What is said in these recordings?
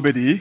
bɛ di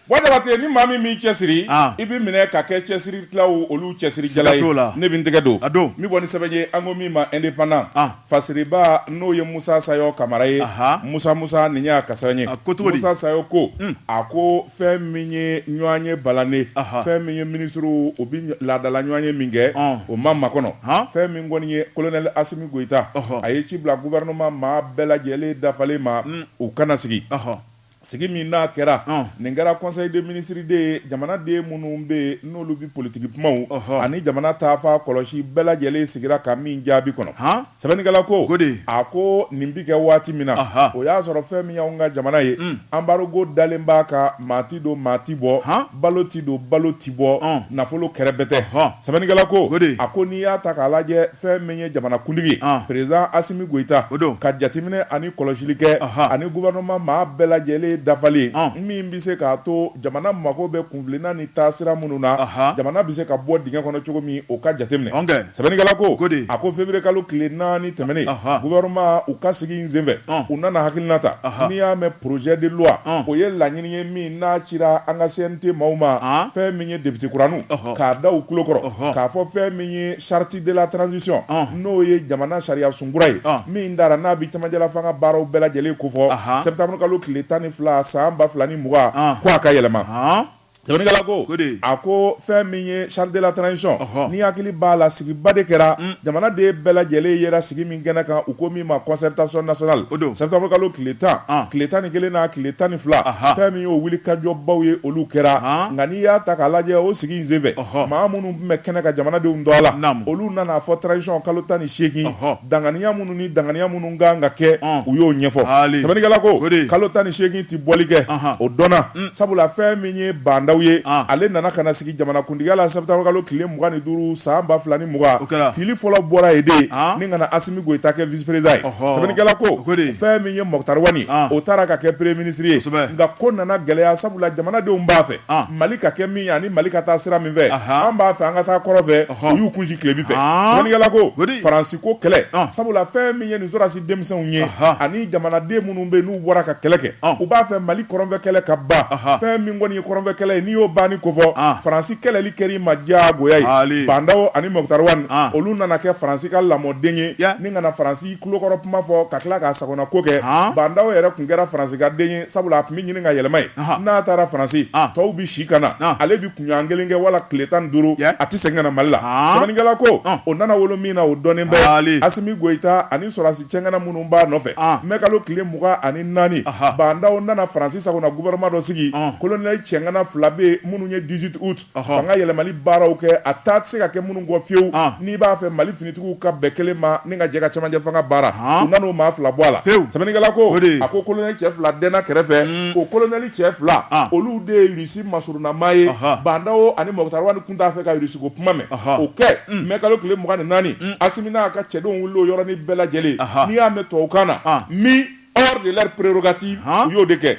wa jabate ni maa min b'i cɛsiri An. i bɛ minɛ ka kɛ cɛsiri tilaw olu cɛsiri jala Siga ye t'o la. ne bɛ n tɛgɛ don A don. min bɔ ni sɛbɛn ye an ko min ma indépendant An. fasiriba n'o ye Musa Sayɔ Kamara ye Aha. Musa Musa nin y'a ka sɛbɛn ye A ko cogo di? Musa Sayɔ ko a ko fɛn min ye ɲɔgɔnye balalen Aha. fɛn min ye minisiriw u bɛ laadala ɲɔgɔnye min kɛ Ɔn. o ma makɔnɔ Han. fɛn min kɔni ye colonel Asimi Goyita Ɔhɔ. a ye ci bila gouvernement maa bɛɛ lajɛlen dafalen ma u ka na sigi Ɔhɔ. Sigi min n'a kɛra, ɔn, nin kɛra conseil des ministres de ye, jamanaden minnu bɛ yen n'olu bɛ politiki kumaw, ɔhɔ, ani jamana taafan kɔlɔsi bɛɛ lajɛlen sigira ka min jaabi kɔnɔ, han, sɛbɛnnikɛla ko, Gode, a ko nin bɛ kɛ waati min na, aha, o y'a sɔrɔ fɛn min y'anw ka jamana ye, un, embargo dalen b'a kan maa tɛ don maa tɛ bɔ, han. Balo ti don, balo ti bɔ, nafolo kɛrɛbɛtɛ. Sɛbɛnnikɛla ko, a ko n'i y'a ta k'a lajɛ fɛn min ye jamanakuntigi ye, président Asimi Goyita, ka jateminɛ ani kɔlɔsili kɛ ani gouvernement maa bɛɛ lajɛlen dafalen min bɛ se k'a to jamana mago bɛ kunfilenna ni taasira minnu na, jamana bɛ se ka bɔ dingɛ kɔnɔ cogo min, o ka jateminɛ. Sɛbɛnnikɛla ko, a ko février kalo tile naani tɛmɛnen, gouvernement u ka sigi in senfɛ, u nana hakilina ta, n'i y'a mɛn projet de loi o ye laɲinin N ye min n'a cira an ka CNT maaw ma fɛn min ye député kura ninnu k'a da u kulo kɔrɔ k'a fɔ fɛn min ye charte de la transition n'o ye jamana sariya sunkura ye min tara n'a bɛ cɛmancɛlafanga baaraw bɛɛ lajɛlen kofɔ septembre kalo tile tan ni fila san ba fila ni mugan ko a ka yɛlɛma sɛbɛnnikɛla ko a ko fɛn min ye charte de la transition n'i hakili b'a la sigiba de kɛra jamanaden bɛɛ lajɛlen yera sigi min kɛnɛ kan u ko min ma concertation nationale o don septembre kalo tile tan tile tan ni kelen na tile tan ni fila fɛn min y'o wulikajɔbaw ye olu kɛra nka n'i y'a ta k'a lajɛ o sigi senfɛ maa minnu tun bɛ kɛnɛ kan jamanadenw don a la olu nan'a fɔ transition kalo tan ni seegin danganiya minnu ni danganiya minnu kan ka kɛ u y'o ɲɛfɔ sɛbɛnnikɛla ko kalo tan ni seegin tɛ bɔli kɛ o dɔnna sabula fɛn min ye Ba Ndaw ye ale nana ka sigi jamanakuntigiya la septembre kalo tile mugan ni duuru san ba fila ni mugan fili fɔlɔ bɔra yen de ni ka na Asimi Goyita kɛ vice-président ye sɛbɛnnikɛla ko fɛn min ye Moctar Wani o taara ka kɛ premier ministre ye nka ko nana gɛlɛya sabula jamanadenw b'a fɛ mali ka kɛ min ani mali ka taa sira min fɛ an b'a fɛ an ka taa kɔrɔn fɛ u y'u kunsin tilebin fɛ sɛbɛnnikɛla ko faransi ko kɛlɛ sabula fɛn min ye nin denmisɛnw ye ani jamanaden minnu bɛ n'u bɔra ka kɛlɛ kɛ u b'a fɛ mali kɔrɔnfɛ kɛlɛ ka ban fɛn min kɔni ye kɔrɔnfɛ kɛlɛ ye n'i y'o banni kofɔ faransi kɛlɛli kɛr'i ma diyagoya ye Ba Ndaw ani Moctar Wani olu nana kɛ faransi ka lamɔden ye ni ka na Faransi kulo kɔrɔ kuma fɔ ka tila k'a sagona ko kɛ Ba Ndaw yɛrɛ tun kɛra faransi ka den ye sabula a tun bɛ ɲini ka yɛlɛma yen n'a taara faransi tɔw bɛ si ka na ale kunɲɔgɔn kelen kɛ wala tile tan ni duuru a tɛ segin ka na mali la sɛbɛnnikɛla ko o nana wolo min na o dɔnnen bɛ asimi goyita ani sɔrɔdasi cɛŋana minnu b'a nɔfɛ mɛ kalo tile mugan ani naani bandaw nana faransi sago na gouvernement dɔ sigi kolonɛli cɛŋana fila bɛ minnu ye dix-huit août fanga yɛlɛmali baaraw kɛ a taa tɛ se ka kɛ minnu kɔ fiyewu n'i b'a fɛ mali finitigiw ka bɛn kelen ma ni ka jɛ ka cɛmancɛ fanga baara u nana o maa fila bɔ a la sɛbɛnnikɛla ko a ko kolonɛli cɛ fila dɛnna kɛrɛfɛ o kolonɛli cɛ fila olu de ye masurunnamaa ye bandaw ani mɔkitari wani tun t'a fɛ ka irisi ko kuma mɛn o kɛ mɛ kalo tile mugan ni naani asimi n'a ka cɛdenw wili o yɔrɔnin bɛɛ lajɛlen n'i y'a mɛn tubabukan na mis hors de leurs prérogatives u y'o de kɛ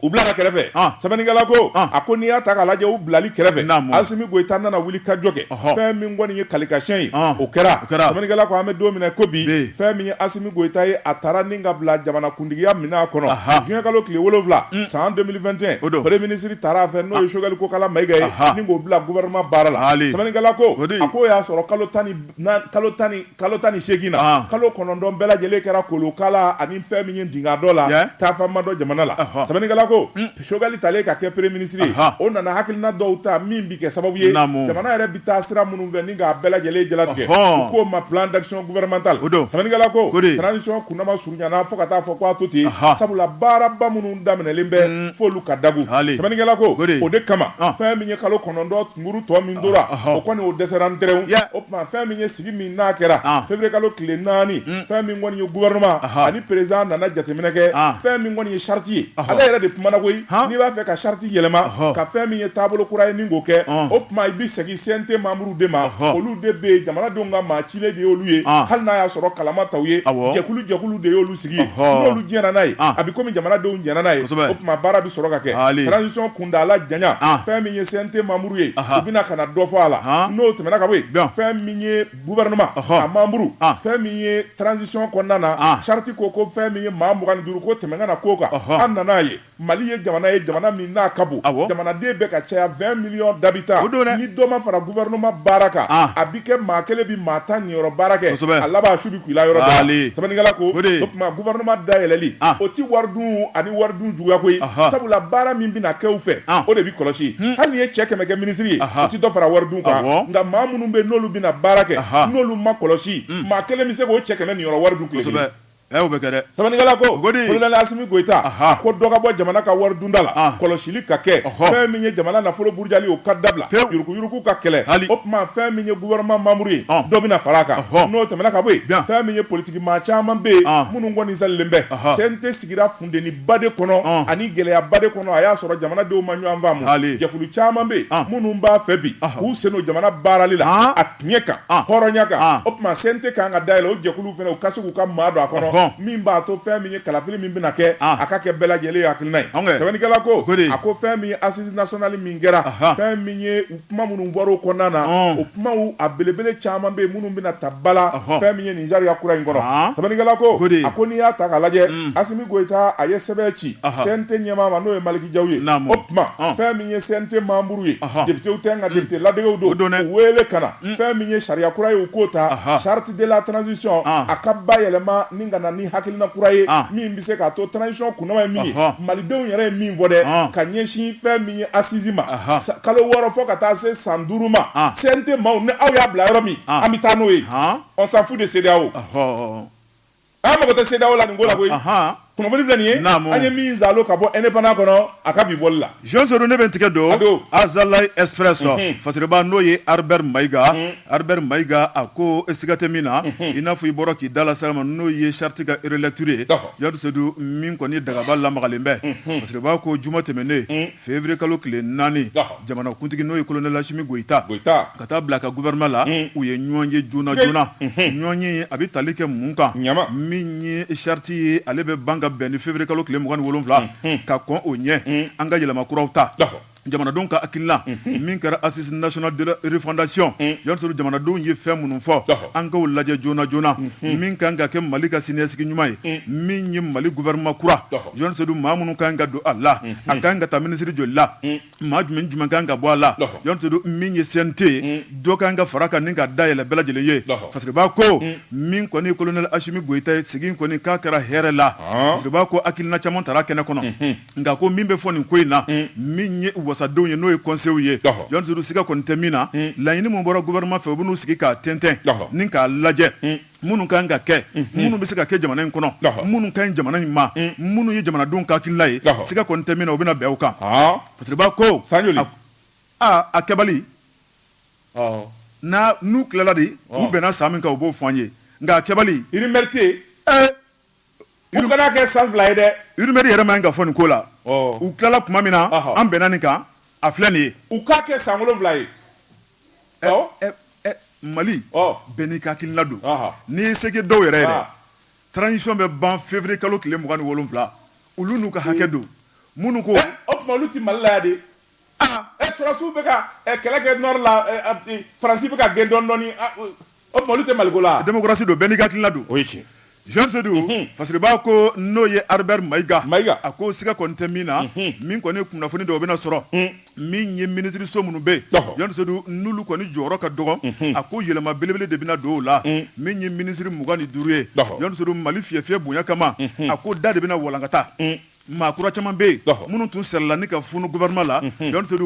u bila kɛrɛfɛ sɛbɛnnikɛla ko a ko n'i y'a ta k'a lajɛ u bilali kɛrɛfɛ asimi goyita nana wulikajɔ kɛ fɛn min kɔni ye kalikasiyɛn ye o kɛra sɛbɛnnikɛla ko an bɛ don min na ko bi fɛn min ye asimi goyita ye a taara ni ka bila jamana kuntigiya minɛn kɔnɔ juin kalo tile wolonwula san 2021 o don premier ministre taara a fɛ n'o ye Choguel Kokala Mayiga ye ni k'o bila gouvernement baara la sɛbɛnnikɛla ko a k'o y'a sɔrɔ kalo tan ni naani kalo tan ni kalo tan ni seegin na kalo kɔnɔntɔn bɛɛ lajɛlen kɛra kolokala ani fɛn min ye dinga dɔ la taafan ma dɔn jamana la sɛbɛnnikɛla ko sogɛli talen ka kɛ premier ministre ye o nana hakilina dɔw ta min bɛ kɛ sababu ye jamana yɛrɛ bɛ taa sira minnu fɛ ni k'a bɛɛ lajɛlen jalatigɛ u k'o ma plan d'action gouvernemental o don sɛbɛnnikɛla ko transition kunnama surunyana fo ka t'a fɔ k'a to ten sabula baaraba minnu daminɛlen bɛ f'olu ka dagun hali sɛbɛnnikɛla ko o de kama fɛn min ye kalo kɔnɔntɔn tunkurun tɔ min tora o kɔni o dɛsɛra n teriw o tuma fɛn min sigi min n'a kɛra An. février kalo tile naani fɛn min kɔni ye gouvernement Aha. ani président nana jateminɛ kɛ An. fɛn min kɔni ye charte ye Ɔhɔ. ale yɛrɛ de kumana koyi Han. n'i b'a fɛ ka charte yɛlɛma Ɔhɔ. ka fɛn min ye taabolo kura ye ni k'o kɛ Ɔn. o tuma i bɛ segin CNT membres de ma Ɔhɔ. olu de bɛ yen jamanadenw ka maa cilen de y'olu ye An. hali n'a y'a sɔrɔ kala ma ta u ye Awɔ. jɛkulu jɛkulu de y'olu sigi Ɔhɔ. n'olu jɛnna n'a ye An. a bɛ komi jamanadenw jɛnna n'a ye Kosɛbɛ. o tuma baara bɛ sɔrɔ ka kɛ Haali. transition kuntaala janya An. fɛn min ye CNT membre ye u bɛna ka na dɔ fɔ a la n'o tɛmɛna ka bɔ yen fɛn min ye gouvernement a membres fɛn min ye transition kɔnɔna na charte ko ko fɛn min ye maa mugan ni duuru ko tɛmɛ kana k'o kan an nana a ye mali ye jamana ye jamana min n'a ka bon jamanaden bɛ ka caya vingt millions d'habitants don ni dɔ ma fara gouvernement baara kan a bɛ kɛ maa kelen bɛ maa tan niyɔrɔ baara kɛ a laban Sɛbɛnnikɛla ko o tuma gouvernement dayɛlɛli o tɛ wari dun ani wari dun juguya koyi sabula baara min bɛna kɛ u fɛ o de bɛ kɔlɔsi hali n'i ye cɛ kɛmɛ kɛ ministre ye o tɛ dɔ fara wari dun kan nka maa minnu bɛ yen n'olu bɛna baara kɛ n'olu ma kɔlɔsi maa kelen bɛ se k'o cɛ kɛmɛ niyɔrɔ wari dun tile kelen sɛbɛnnikɛla ko Asimi Goyita ko dɔ ka bɔ jamana ka wari dunda la kɔlɔsili ka kɛ fɛn min ye jamana nafolo Jali o ka dabila yuruguyurugu ka kɛlɛ hali o tuma fɛn min ye gouvernement membre ye dɔ bɛna fara a kan n'o tɛmɛna ka bɔ yen fɛn min ye politique maa caman bɛ yen minnu kɔni salilen bɛ CNT sigira funteniba de kɔnɔ ani gɛlɛyaba de kɔnɔ a y'a sɔrɔ jamanadenw ma ɲɔgɔn faamu jɛkulu caman bɛ yen minnu b'a fɛ bi k'u sen don jamana baarali la Tiɲɛ kan hɔrɔnya kan o tuma CNT kan ka dayɛlɛ o jɛkulu fana u ka se k'u ka maa don a kɔnɔ min b'a to fɛn min ye kalafili min bɛna kɛ a ka kɛ bɛɛ lajɛlen ye hakilina ye sɛbɛnnikɛla ko a ko fɛn min ye assise nationale min kɛra fɛn min ye kuma minnu fɔra o kɔnɔna na o kuma a belebele caman bɛ yen minnu bɛna ta ba la fɛn min ye nin sariya kura in kɔnɔ sɛbɛnnikɛla ko a ko n'i y'a ta k'a lajɛ Asimi Goyita a ye sɛbɛn ci CNT ɲɛmaa ma n'o ye Maliki Jaw ye tuma fɛn min ye CNT membre ye députéw tɛ nka député ladegew don u wele ka na fɛn min ye sariya kura ye k'o ta charte de la transition a ka bayɛlɛma ni ka na ni hakilina kura ye min bɛ se k'a to transition kundama ye min ye malidenw yɛrɛ ye min fɔ dɛ ka ɲɛsin fɛn min ye assise ma kalo wɔɔrɔ fɔ ka taa se san duuru ma CNT maaw ni aw y'a bila yɔrɔ min an bɛ taa n'o ye on s'en fout de CEDEAO An mago tɛ CEDEAO la nin ko la koyi. Anhan! Kunnafoni filɛ nin ye. Naamu! An ye min zaalo ka bɔ Indépendant kɔnɔ, a ka bi bɔli la. Zɔn Solo, ne bɛ n tigɛ don. A don! Azalaï Express fasiriba n'o ye Albert Maïga, Albert Maïga, a ko siga tɛ min na, i n'a fɔ i bɔra k'i da lase a ma, n'o ye charte ka relecture ye, Yadu Sedu, min kɔni dagaba lamagalen bɛ. Fasiriba ko juma tɛmɛnen, Février kalo tile 4, jamanakuntigi n'o ye Colonel Asimi Goyita, ka taa bila a ka gouvernement la, u ye ɲɔgɔn ye joona joona, ɲɔgɔn ye in a bɛ tali kɛ mun kan, min ye charte ye ale bɛ ban ka bɛn ni février kalo tile 27 ka kɔn o ɲɛ, an ka yɛlɛma kuraw ta, jamanadenw ka hakilina min kɛra Assise nationale de la refondation yalsuru jamanadenw ye fɛn minnu fɔ, an k'o lajɛ joona joona, min ka kan ka kɛ Mali ka siniɲɛsigi ɲuman ye, min ye Mali gouvernement kura Jɔn sedu maa minnu kan ka don a la a ka kan ka taa minisiri joli la maa jumɛn jumɛn kan ka bɔ a la jɔn min ye CNT ye dɔ ka kan ka fara kan ni ka dayɛlɛ bɛɛ lajɛlen ye fasiriba ko min kɔni Colonel Asimi Goyita ye sigi kɔni k'a kɛra hɛrɛ la fasiriba ko hakilina caman tara kɛnɛ kɔnɔ nka ko min bɛ fɔ nin ko in na min ye wasadenw ye n'o ye conseil ye Jɔn Sedu siga kɔni tɛ min na laɲini min bɔra gouvernement fɛ u bɛn'u sigi k'a tɛntɛn ni k'a lajɛ minnu ka kan ka kɛ minnu bɛ se ka kɛ jamana in kɔnɔ minnu ka ɲi jamana in ma minnu ye jamanadenw ka hakilina ye siga kɔni tɛ min na u bɛna bɛn o kan fasiriba ko sa aa a kɛbali n'a n'u tilala de u bɛnna san min kan u b'o fɔ an ye nka a kɛbali i ni mɛrete U kana kɛ san fila ye dɛ rumeur yɛrɛ man kan ka fɔ nin ko la u tilala tuma min na an bɛnna nin kan a filɛ nin ye u k'a kɛ san wolonwula ye Mali bɛɛ n'i ka hakilina don n'i ye seg dɔw yɛrɛ ye transition bɛ ban février kalo tile mugan ni wolonwula olu n'u ka hakɛ don minnu ko o tuma olu tɛ Malila ye de Sɔrɔsiw bɛ ka kɛlɛ kɛ nord la Faransi bɛ ka gɛn dɔɔni dɔɔni o tuma olu tɛ Maliko la démocratie don bɛɛ n'i hakilila don o Jɔn Sedu fasiriba ko n'o ye Albert Mayiga a ko siga kɔni tɛ min na min kɔni kunnafoni dɔw bɛna sɔrɔ min ye minisiririso minnu bɛ Jɔn Sedu n'olu kɔni jɔyɔrɔ ka dɔgɔ a ko yɛlɛma belebele de bɛna don o la min ye minisiri mugan ni duuru ye Jɔn Sedu Mali fi fi fiyɛ bonya kama a ko da de bɛna walankata Maa kura caman bɛ yen minnu tun sɛla ka f gma la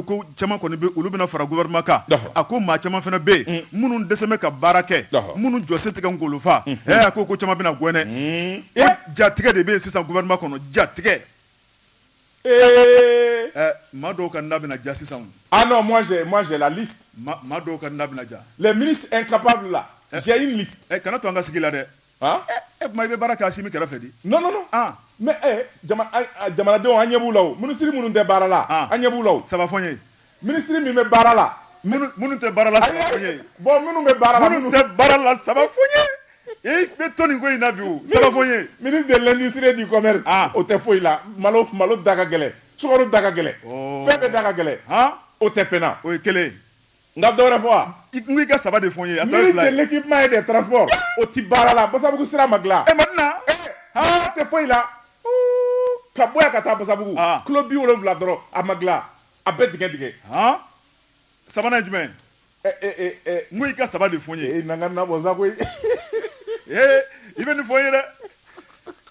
ko caman olu bɛna fara gma kan a ko maa caman fana bɛ yen minnu dɛsɛ ka baara kɛ minnu jɔ se tigɛ golofa a ko ko caman bɛna gɛ e jatigi de bɛ yen sisan gma kɔnɔ jatigi ee ɛ maa dɔw ka da ja sisan maa dɔw ka da ja mɛ mini ka la kana to an ka sigi la dɛ E tuma i bɛ baara kɛ Asimi kɛrɛfɛ di non mais jamanadenw an ɲɛ b'u la minisiri minnu tɛ baara la an ɲɛ b'u la o saba fɔ n ye minisiri min bɛ baara la minnu tɛ baara la bon minnu bɛ baara tɛ baara la saba fɔ n ye i bɛ to nin ko in na bi saba fɔ n ye ministre de l'industrie et du commerce o tɛ foyi la malo malo da ka gɛlɛn sukaro da ka gɛlɛn fɛn bɛɛ da ka gɛlɛn o tɛ fɛn na o ye kelen n ka dɔwɛrɛ fɔ wa i n ko i ka saba de fɔ n ye a tɔ ye ministre fila ye de l'équipement et des transports o ti baara la basabugu sira ma dilan e Madina a tɛ foyi la Uu, ka bɔ yan ka taa basabugu Ah. kilo bi wolonwula dɔrɔn a ma dilan a bɛɛ dingɛ dingɛ han sabanan ye jumɛn Ɛ, ɛ, ɛ, ɛ, n ko i ka saba de fɔ n ye e na n ka nabɔ sa koyi ee i bɛ nin fɔ n ye dɛ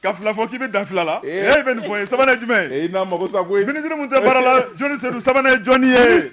ka fila fɔ k'i bɛ dan fila la Eh. ee i bɛ nin fɔ n ye sabanan ye jumɛn ye e na n mago sa koyi minisiri mun tɛ baara la Jɔn Sedu sabanan ye jɔnni ye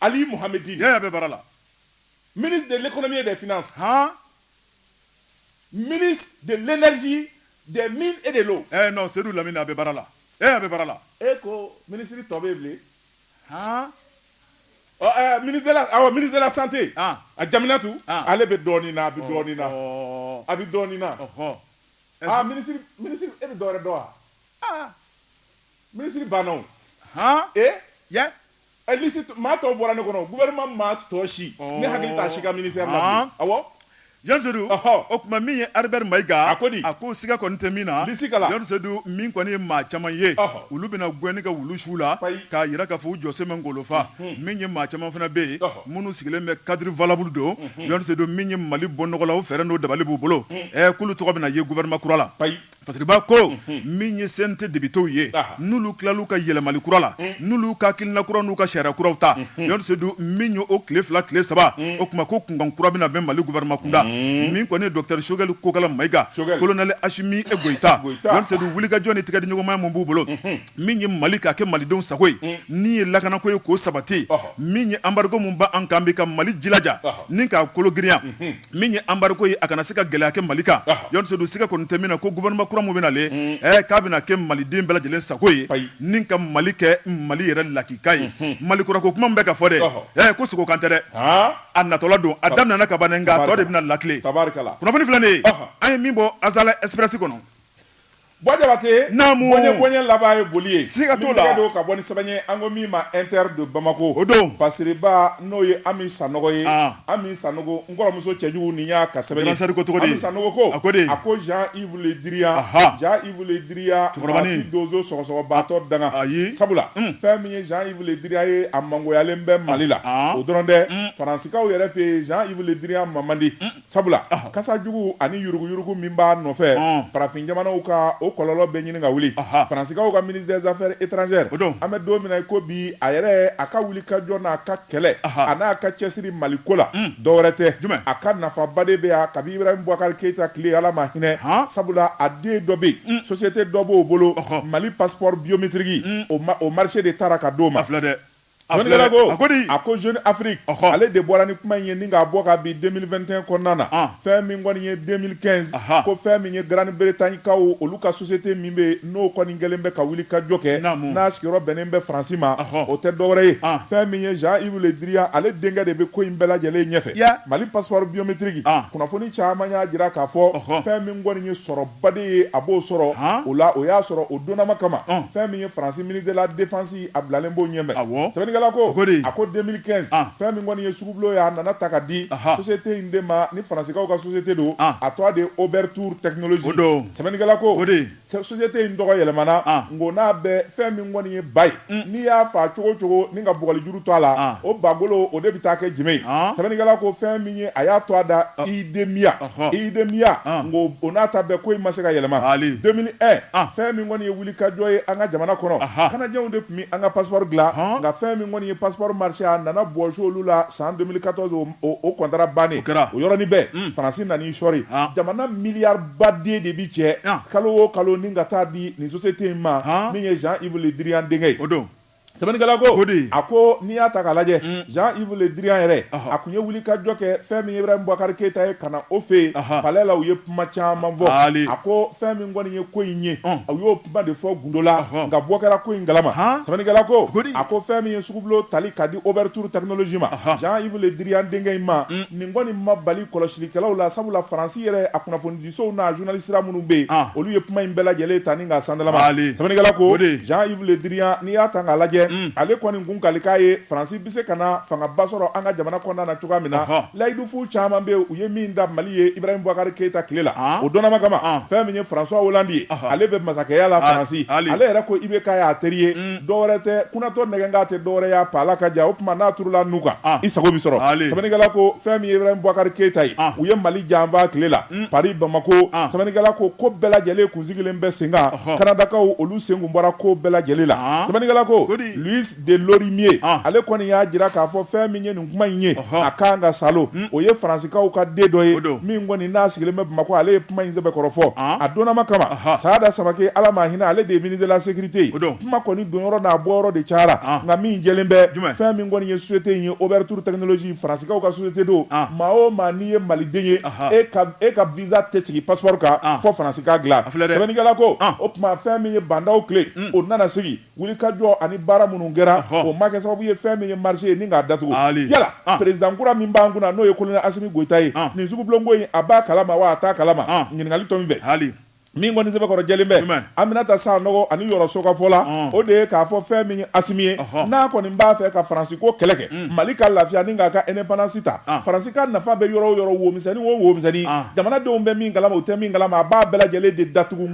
Ali Mohamedi. A bɛ baara la. Ministre de l'économie et des finances. Han. Ministre de l'énergie, des mines et de l'eau. Eh non, Seydou Lamine a bɛ baara la. Eh a bɛ baara la. E ko ministre tɔ bɛ bilen. Han. Ɔ eh ministre de la awɔ ministre de la santé. Han. A Jaminatu. Han. Ale bɛ dɔɔnin na, a bɛ dɔɔnin na. Ɔhɔɔ. A bɛ dɔɔnin na. Ɔhɔɔ. Ah ministre ministre e bɛ dɔ wɛrɛ dɔn wa? Ah. Ministre banna o. Han. E? Yɛ? Ɛ liste tɔ maa tɔw bɔra ne kɔnɔ o gouvernement maa s tɔ si ɔɔ ne hakili t'a si ka ministère la bilen ɔnhɔn awɔ Jɔn Sedu ɔhɔ o tuma min ye Albert Mayiga a ko di a ko siga kɔni tɛ min na liste kala Jɔn Sedu min kɔni ye maa caman ye ɔhɔ olu bɛna gɛnni ka wulu su u la payi k'a jira k'a fɔ u jɔsen ma ngolo fa unhun min ye maa caman fana bɛ yen ɔhɔ minnu sigilen bɛ cadre valable don unhun Jɔn Sedu min ye Mali bɔ nɔgɔ la o fɛɛrɛ n'o dabali b'u bolo un ɛɛ k'olu tɔgɔ bɛna ye gouvernement kura la payi Fasiriba ko min ye CNT députéw ye n'olu tilal'u ka yɛlɛmali kura la n'olu ka hakilina kura n'u ka sariya kuraw ta don min ye o tile fila tile saba o tuma ko kunkan kura bɛna bɛn mali gouvernement kunda min kɔni Dr Choguel Kokalla Maïga colonel Assimi Goïta wulikajɔ ni tigɛdiɲɔgɔnma min b'u bolo min ye mali ka kɛ malidenw sago ye min ye lakanako ye k'o sabati min ye embargo min b'an kan bi ka mali jilaja ni k'a kolo girinya min ye embargo ye a kana se ka gɛlɛya kɛ mali kan Jɔni Seydou siga kɔni tɛ min na ko gouvernement kura min bɛna le mm. eh, k'a bɛna kɛ maliden bɛɛ lajɛlen sago ye ni ka mali kɛ mali yɛrɛ lakika ye mm-hmm. mali kura ko kuma min bɛ ka fɔ dɛ eh, ko sogo kan tɛ dɛ a natɔla don a daminɛna kaban nka a tɔ de bɛna lakile kunnafoni filɛ nin ye an ye min bɔ Azalaï Express kɔnɔ Bɔ jabate naamu bɔnɲɛ bɔnɲɛ laban ye boli ye siga t'o la don ka bɔ ni sɛbɛn ye an ko min ma Inter de Bamako o don fasiriba n'o ye ami sanɔgɔ ye ami sanogo n kɔrɔmuso cɛjugu nin y'a ka sɛbɛn ye ami sanogo ko a ko a ko Jean-Yves Le Drian Jean-Yves Le Drian cɛkɔrɔba donso sɔgɔsɔgɔbatɔ danga ayi sabula fɛn min ye Jean-Yves Le Drian ye a mangoyalen bɛ mali la o dɔrɔn tɛ faransikaw yɛrɛ fɛ Jean-Yves Le Drian ma man di Sabula kasa jugu ani yuruguyurugu min b'a nɔfɛ farafin jamanaw kan o kɔlɔlɔ bɛ ɲini ka wuli faransikaw ka ministre des affaires étrangères an bɛ don min na ko bi a yɛrɛ a ka wuli ka jɔ n'a ka kɛlɛ a n'a ka cɛsiri mali ko la dɔwɛrɛ tɛ jumɛn a ka nafaba de bɛ yan kabi Ibrahim Boubacar Keïta tile ala ma hinɛ sabula a den dɔ bɛ yen société dɔ b'o bolo mali passeport biométrique o marché de taara ka d'o ma filɛ dɛ A Jɔnni filɛ kɛra dɛ, ko? a ko di? A ko Jeune Afrique, Ɔhɔ. ale de bɔra ni kuma in ye ni k'a bɔ ka bin 2021 kɔnɔna na, An. fɛn min kɔni ye 2015, Aha. ko fɛn min ye Grande Bretagne kaw olu ka société min bɛ yen, n'o kɔni kɛlen bɛ ka wulikajɔ kɛ, Naamu. n'a sigiyɔrɔ bɛnnen bɛ Faransi ma, Ɔhɔ. o tɛ dɔwɛrɛ ye, An. fɛn min ye Jean-Yves Le Drian, ale denkɛ de bɛ ko in bɛɛ lajɛlen ɲɛfɛ. Ya. Mali passeport biométrique, An. kunnafoni caman y'a jira k'a fɔ, Ɔhɔ. fɛn min kɔni ye sɔrɔba de ye, a b'o sɔrɔ, Han. o la, o y'a sɔrɔ o donnama kama, An. fɛn min ye Faransi ministre de la défense a bilalen b'o ɲɛfɛ sɛbɛnnikɛla ko a ko 2015 ah. fɛn min kɔni ye sugubulon ye a nana ta ka di société in de ma ni faransikaw ka société don ah. a tɔgɔ de ye Oberthur Technologies sɛbɛnnikɛla ko société in tɔgɔ yɛlɛmana ah. nko n'a bɛ fɛn min kɔni ye ba ye mm. n'i y'a fa cogo cogo ni ka bugɔlijuru to a la o bagolo o de bɛ taa kɛ jenbe ye sɛbɛnnikɛla ko fɛn min ye a y'a to a da IDEMIA IDEMIA nko o n'a ta bɛɛ ko in ma se ka yɛlɛma 2001 fɛn min kɔni ye wuli Wulikajɔ ye an ka jamana kɔnɔ, anhan, Canadienw de tun bɛ an ka passeport dilan, ɔn, nka fɛn min kɔni ye passeport marché a nana bɔsi olu la san 2014 o o kɔntara bannen, o kɛra, o yɔrɔnin bɛɛ, un, Faransi nan'i sɔɔri, an, jamana miliyari baden de bɛ cɛ, an, kalo o kalo ni ka taa di nin société in ma, an, min ye Jean Yves Le Drian denkɛ ye, o don. sɛbɛnnikɛla ko, o de ye. a ko n'i y'a ta k'a lajɛ Jean Yves Le Drian yɛrɛ, a kun ye wulikajɔ kɛ fɛn min ye Ibrahim Boubacar Keita ye ka na o fɛ yen palais la, u ye kuma caman fɔ, a ko fɛn min kɔni ye ko in ye, u y'o kuma de fɔ gundo la, nka bɔ kɛra ko in kalama, sɛbɛnnikɛla ko, a ko fɛn min ye sugubulon tali ka di Ouverture Technologie ma, Jean Yves Le Drian denkɛ in ma, nin kɔni ma bali kɔlɔsilikɛlaw la, sabula Faransi yɛrɛ a kunnafonidi sow n'a journalistes minnu bɛ yen, an, olu ye kuma in bɛɛ lajɛlen ta ni k'a sandalama, Mali, sɛbɛnnikɛla ko, o de ye, Jean Yves Le Drian n'i y'a ta k'a lajɛ, un, ale kɔni kun kali k'a ye Faransi bɛ se ka na fangaba sɔrɔ an ka jamana kɔnɔna na cogoya min na, ɔhɔ, layidufu caman bɛ yen u ye min da Mali ye Ibrahim Boubacar Keita tile la, an, o donnama kama, an, fɛn min ye François Hollande ye, ɔhɔ, ale bɛ masakɛya la Faransi, ale yɛrɛ ko IBK y'a teri ye, un. dɔwɛrɛ tɛ kunatɔ nɛgɛnkan tɛ dɔwɛrɛ y'a pa ala ka ja o tuma n'a turula nun kan i sago bɛ sɔrɔ sɛbɛnnikɛla ko fɛn min ye Ibrahim Boubacar Keita ye u ye Mali janfa tile la Paris Bamako sɛbɛnnikɛla ko ko bɛɛ lajɛlen kun sigilen bɛ sen kan Kanadakaw olu sen kun bɔra ko bɛɛ lajɛlen la sɛbɛnnikɛla ko Louis de Lorimier ale kɔni y'a jira k'a fɔ fɛn min ye kuma in ye a kan ka sa o ye Faransikaw ka den dɔ ye min kɔni n'a sigilen bɛ bamakɔ ale ye kuma in sɛbɛkɔrɔ fɔ a donnama kama Sada Samaké ala ma hinɛ ale de ye ministre de la sécurité kuma kɔni donyɔrɔ n'a bɔyɔrɔ de cayara nka min jɛlen bɛ fɛn min kɔni ye société in ye Ouverture Technologie Faransikaw ka société don maa o maa n'i ye maliden ye e ka visa tɛ sigi passeport kan fɔ Faransi ka dilan sɛbɛnnikɛla ko o tuma fɛn min ye Bah N'Daw tile o nana sigi Wulikajɔ ani baara minnu kɛra o ma kɛ sababu ye fɛn min ye marché ye ni k'a datugu yala président kura min b'an kunna n'o ye colonel Assimi Goïta ye nin sugubulonko in a b'a kalama wa a t'a kalama ɲininkali tomi bɛ hali min kɔni sɛbɛkɔrɔ jɛlen bɛ Aminata Sanogo ani Yoro Sow ka fɔ la o de ye k'a fɔ fɛn min ye Assimi ye n'a kɔni b'a fɛ ka faransi ko kɛlɛ kɛ mali ka lafiya ni k'a ka indépendance ta faransi ka nafa bɛ yɔrɔ o yɔrɔ womisɛnnin o womisɛnnin jamanadenw bɛ min kalama o tɛ min kalama a b'a bɛɛ lajɛlen de datugu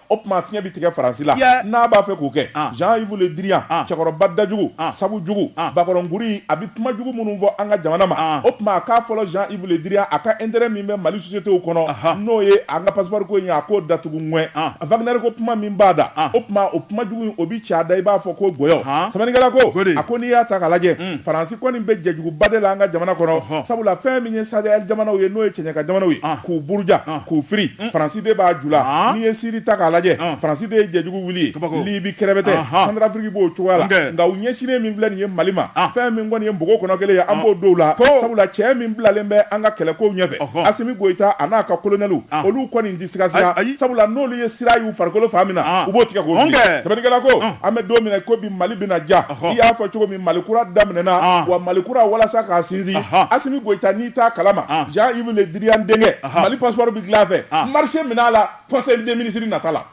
O tuma fiɲɛ bɛ tigɛ Faransi la n'a b'a fɛ k'o kɛ. Jean-Yves Le Drian, cɛkɔrɔba dajugu, sabu jugu, bakɔrɔnkuru in, a bɛ kuma jugu minnu fɔ an ka jamana ma, o tuma a k'a fɔlɔ Jean-Yves Le Drian, a ka intérêt min bɛ Mali sociétéw kɔnɔ, n'o ye an ka passeport ko in ye, a k'o datugu ŋwɛn. Wagner ko kuma min b'a da, o tuma o kuma jugu in, o bɛ ci a da i b'a fɔ ko gɔyɔ. Sɛbɛnnikɛla ko, a ko n'i y'a ta k'a lajɛ, Hmm. faransi kɔni bɛ jɛjuguba de la an ka jamana kɔnɔ sabula fɛn min ye Sahel jamanaw ye n'o ye cɛɲɛka jamanaw ye ah. k'u buruja ah. k'u firi hmm. faransi de b'a ju la ah. n'i ye siri ta k'a lajɛ faransi de ye jɛjugu wuli ye libi kɛrɛbɛtɛ Centrafrique b'o cogoya la nka u ɲɛsinnen min filɛ nin ye mali ma fɛn min kɔni ye npogo kɔnɔ kelen ye an b'o dɔw la sabula cɛ min bilalen bɛ an ka kɛlɛkow ɲɛfɛ asimi goyita a n'a ka kolonɛliw olu kɔni tɛ sigasiga sabula n'olu ye siran y'u farikolo fan min na u b'o tigɛ k'o fili sɛbɛnnikɛla ko an bɛ don min na ko bi mali bɛna ja i y'a fɔ cogo min mali kura daminɛna wa mali kura walasa k'a sinsin asimi goyita n'i t'a kalama Jean-Yves Le Drian denkɛ mali passeport bɛ dilan a fɛ marché minɛ a la conseil des ministres nata la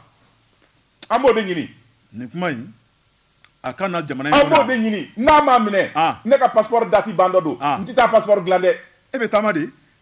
an b'o de ɲini nin kuma a ka jamana an b'o de ɲini n'a m'a minɛ ne ka passeport dati ban dɔ don n tɛ taa passeport dilan dɛ e bɛ taama di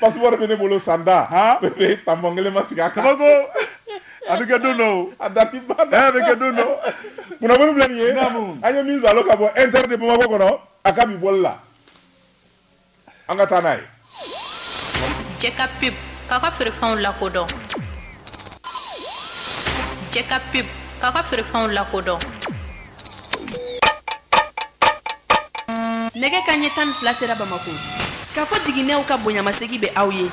passeport bɛ ne bolo san tan tampon kelen ma sigi a kan ba ko a bɛ kɛ don dɔ a da bɛ kɛ don dɔ kunnafoni filɛ nin ye an ye min sɔrɔ ka bɔ Inter de bamakɔ kɔnɔ a ka bi bɔli la an ka taa n'a ye cɛ ka pe ka ka feerefɛnw lakodɔn cɛ ka pe ka ka feerefɛnw lakodɔn nɛgɛ kanɲɛ tan ni fila sera bamakɔ kafo jiginɛw ka bonyamasegi bɛ aw ye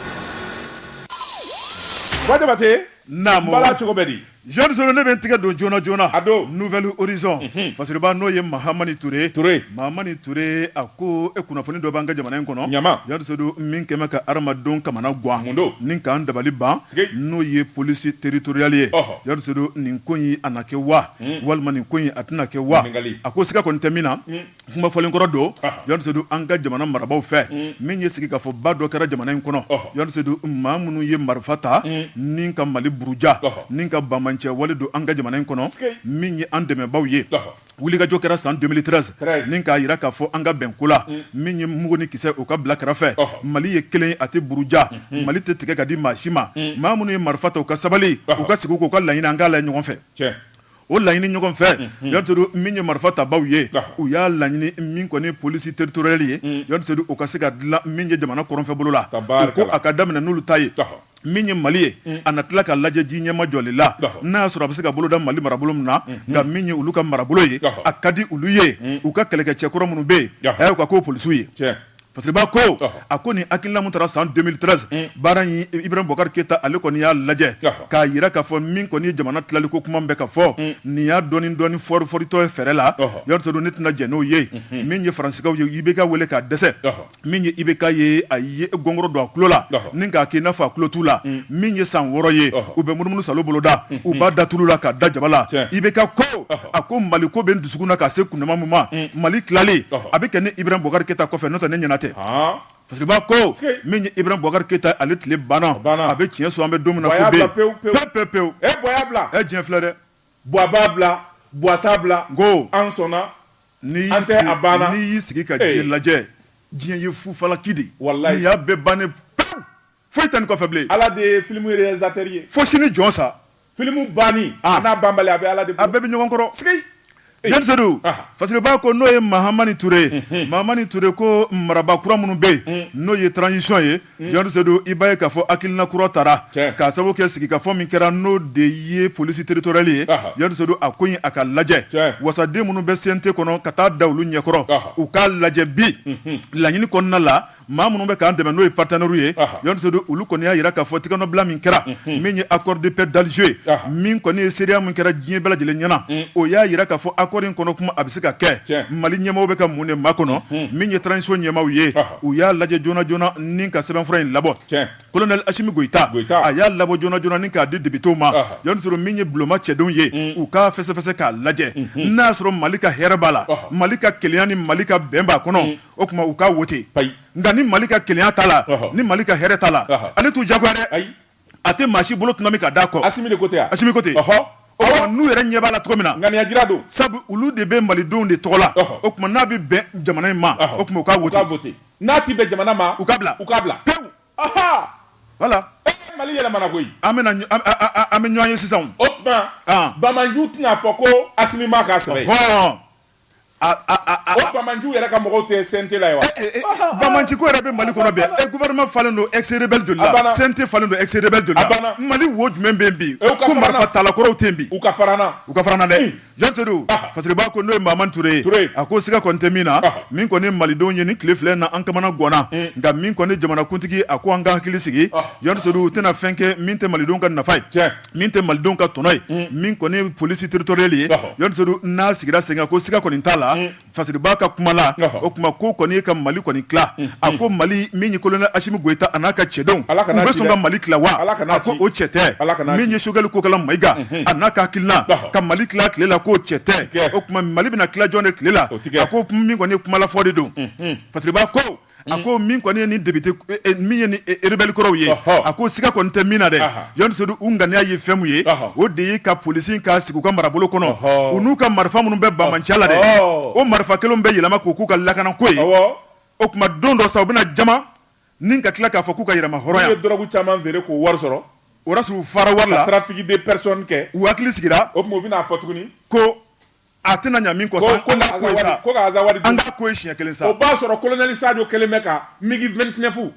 Ba jabate naamu bala cogo bɛ di jeune solo ne bɛ n tigɛ don joona joona a don nouvel horizon mhm. fasiriba n'o ye mahamani ture mahamani ture a ko e kunnafoni dɔ b'an ka jamana in kɔnɔ ɲama jeune solo min kɛlen bɛ ka hadamadenw kamanagwan ni k'an dabali ban n'o ye police territoriale ye jeune solo nin ko in a na kɛ wa walima nin ko in a tɛna kɛ wa a ko siga kɔni tɛ min na kuma fɔlen kɔrɔ don yadu an ka jamana marabagaw fɛ min ye sigikafɔba dɔ kɛra jamana in kɔnɔ yadu maa minnu ye marifa ta ni ka mali buruja ni ka banbaanci wale don an ka jamana in kɔnɔ min ye an dɛmɛbaw ye wulikajɔ kɛra san deux mille treize ni k'a jira k'a fɔ an ka bɛn ko la min ye mugu ni kisɛ u ka bila kɛrɛfɛ mali ye kelen a tɛ buruja mali tɛ tigɛ ka di maa si ma maa minnu ye marifa ta u ka sabali u ka sigi k'u ka laɲini an k'a la ɲɔgɔn fɛ o laɲini ɲɔgɔn fɛ yaturu min ye marifa tabaw ye u y'a laɲini min kɔni police territoriale ye yaturu u ka se ka dilan min ye jamana kɔrɔnfɛ bolo la o ko a ka daminɛ n'olu ta ye min ye mali ye a na tila ka lajɛ ji ɲɛma jɔli la n'a y'a sɔrɔ a bɛ se ka boloda mali marabolo min na nka min ye olu ka marabolo ye a ka di olu ye u ka kɛlɛkɛcɛ kɔrɔ minnu bɛ yen a y'u k'o polisiw ye fasiriba ko a ko nin hakilina min tara san deux mille treize baara in ibrahim boubacar keyita ale kɔni y'a lajɛ k'a jira k'a fɔ min kɔni ye jamana tilaliko kuma bɛ ka fɔ nin y'a dɔɔni dɔɔni foriforitɔ ye fɛrɛ la yɔrɔ sɔrɔ ne tɛna jɛn n'o ye min ye faransikaw ye IBK weele ka dɛsɛ min ye IBK ye a ye gɔngɔrɔ don a tulo la ni k'a kɛ i n'a fɔ a tulo t'u la min ye san wɔɔrɔ ye u bɛ munumunu sa boloda u b'a da tulu la k'a da jaba la IBK ko a ko mali ko bɛ dusukun na ka se kundama min ma mm. mali tilali a bɛ kɛ ne ibrahim boubacar keyita kɔfɛ n'o tɛ ne ɲɛna tɛ fasiriba ko min ye ibrahim boubacar keyita ale tile banna a bɛ tiɲɛ so an bɛ don min na pewu pewu pewu e diɲɛ filɛ dɛ buwa b'a bila buwa t'a bila ko an sɔnna ni a banna n'i y'i sigi ka diɲɛ lajɛ diɲɛ ye fufalaki de n'i y'a bɛɛ ban ne Foyi tɛ nin kɔfɛ bilen. Ala de ye film realisateur ye. Fo sini jɔn sa. Film banni a n'a banbali a bɛ Ala de bolo. A bɛɛ bɛ ɲɔgɔn kɔrɔ. Sikei! Jɔn Sedu, Fasiriba ko n'o ye Mahamani Ture ye. Mahamani Ture ko maraba kura minnu bɛ yen, n'o ye transition ye, Jɔn Sedu, i b'a ye k'a fɔ hakilina kura tara. Tiɲɛ! K'a sababu kɛ sigikafɔ min kɛra, n'o de ye police territoriale ye. Ɔhɔ! Jɔn Sedu, a ko in a ka lajɛ. Tiɲɛ! Wasaden minnu bɛ CNT kɔnɔ, ka taa da olu ɲɛkɔrɔ. Ɔhɔ! U k'a lajɛ bi, laɲini kɔnɔna la. maa minnu bɛ k'an dɛmɛ n'o ye partenaires ye Jɔn Sedu olu kɔni y'a jira k'a fɔ tigɛnɔbila min kɛra min ye accord de paix d'Alger ye min kɔni ye seereya min kɛra diɲɛ bɛɛ lajɛlen ɲɛna o y'a jira k'a fɔ accord in kɔnɔ kuma a bɛ se ka kɛ Mali ɲɛmaaw bɛ ka mun de makɔnɔ min ye transition ɲɛmaaw ye u y'a lajɛ joona joona ni ka sɛbɛnfura in labɔ colonel Asimi Goyita a y'a labɔ joona joona ni k'a di députés ma Jɔn Sedu min ye bulonma cɛdenw ye u k'a fɛsɛfɛsɛ k'a lajɛ n'a y'a sɔrɔ Mali ka hɛrɛ b'a la Mali ka kelenya ni Mali ka bɛn b'a kɔnɔ o tuma u k'a wote ayi nka ni mali ka kelenya t'a la ni mali ka hɛrɛ t'a la ale t'u jagoya dɛ ayi a tɛ maa si bolo tɔnɔmi ka d'a kɔ asimi de ko tɛ asimi ko tɛ n'u yɛrɛ ɲɛ b'a la cogo min na ŋaniya jira don sabu olu de bɛ malidenw de tɔgɔ la o tuma n'a bɛ bɛn jamana in ma o tuma u k'a wote vote n'a ti bɛn jamana ma u k'a bila u k'a bila pewu aha wala eh, mali yɛlɛmana koyi an bɛ an bɛ ɲɔgɔn ye sisan o tuma banbanci tɛna fɔ ko asimi ma k'a sɛbɛn Banbanci yɛrɛ ka mɔgɔw tɛ CNT la wa banbanciko yɛrɛ bɛ mali kɔnɔ bi gouvernement falen don ex-rebelle joli la CNT falen don ex-rebelle joli la mali wo jumɛn bɛ yen bi marifatala kɔrɔw tɛ yen bi u ka fara an na dɛ jɔn sedu fasiriba ko n'o ye mahamani ture ye ture a ko siga kɔni tɛ min na min kɔni malidenw ye nin tile fila in na an kamanaganna nka min kɔni jamanakuntigi a ko an ka hakili sigi jɔn sedu u tɛna fɛn kɛ min tɛ malidenw ka nafa ye cɛ min tɛ malidenw ka tɔnɔ ye mm. min kɔni ye polisi teritoriyali ye jɔn sedu n'a sigira sen kan ko siga kɔni t'a la mm. fasiriba ka kuma la o tuma ko kɔni ye ka mali kɔni tila mm. a ko mali min ye kolonɛli asimi goyita a n'a ka cɛdenw bɛ sɔn ka mali tila wa a ko o cɛ tɛ min ye sogɛli kokala mayiga mm-hmm. a n'a ka hakilina ka mali tila tile la k'o cɛ tɛ o tuma mali bɛna tila jɔn de tile la a ko min kɔni ye kumalafɔ de don mm-hmm. fasiriba ko a ko min kɔni ye ni député min ye ni rebelle kɔrɔw ye, ɔhɔ, a ko siga kɔni tɛ min na dɛ, anhan, Jɔn Sedu u ŋaniya ye fɛn min ye, ɔhɔ, o de ye ka police in ka sigi u ka marabolo kɔnɔ, ɔhɔ, u n'u ka marifa minnu bɛ banbanciya la dɛ, ɔhɔ, o marifa kelenw bɛ yɛlɛma k'u k'u ka lakanako ye, awɔ, o tuma don dɔ sa u bɛna jamana in ka tila k'a fɔ k'u ka yɛrɛmahɔrɔnya, n'u ye drogue caman feere k'o wari sɔrɔ, o y'a sɔrɔ u fara wari la, ka trafic de personne kɛ, u hakili sigira, o tuma u bɛna a fɔ tuguni ko A tɛna ɲa min kɔ sa, ko, ko ka Azawadi, ko ka Azawadi dun. An ka ko ye siɲɛ kelen sa. O b'a sɔrɔ kolonɛli Sajo kelen bɛ ka migi 29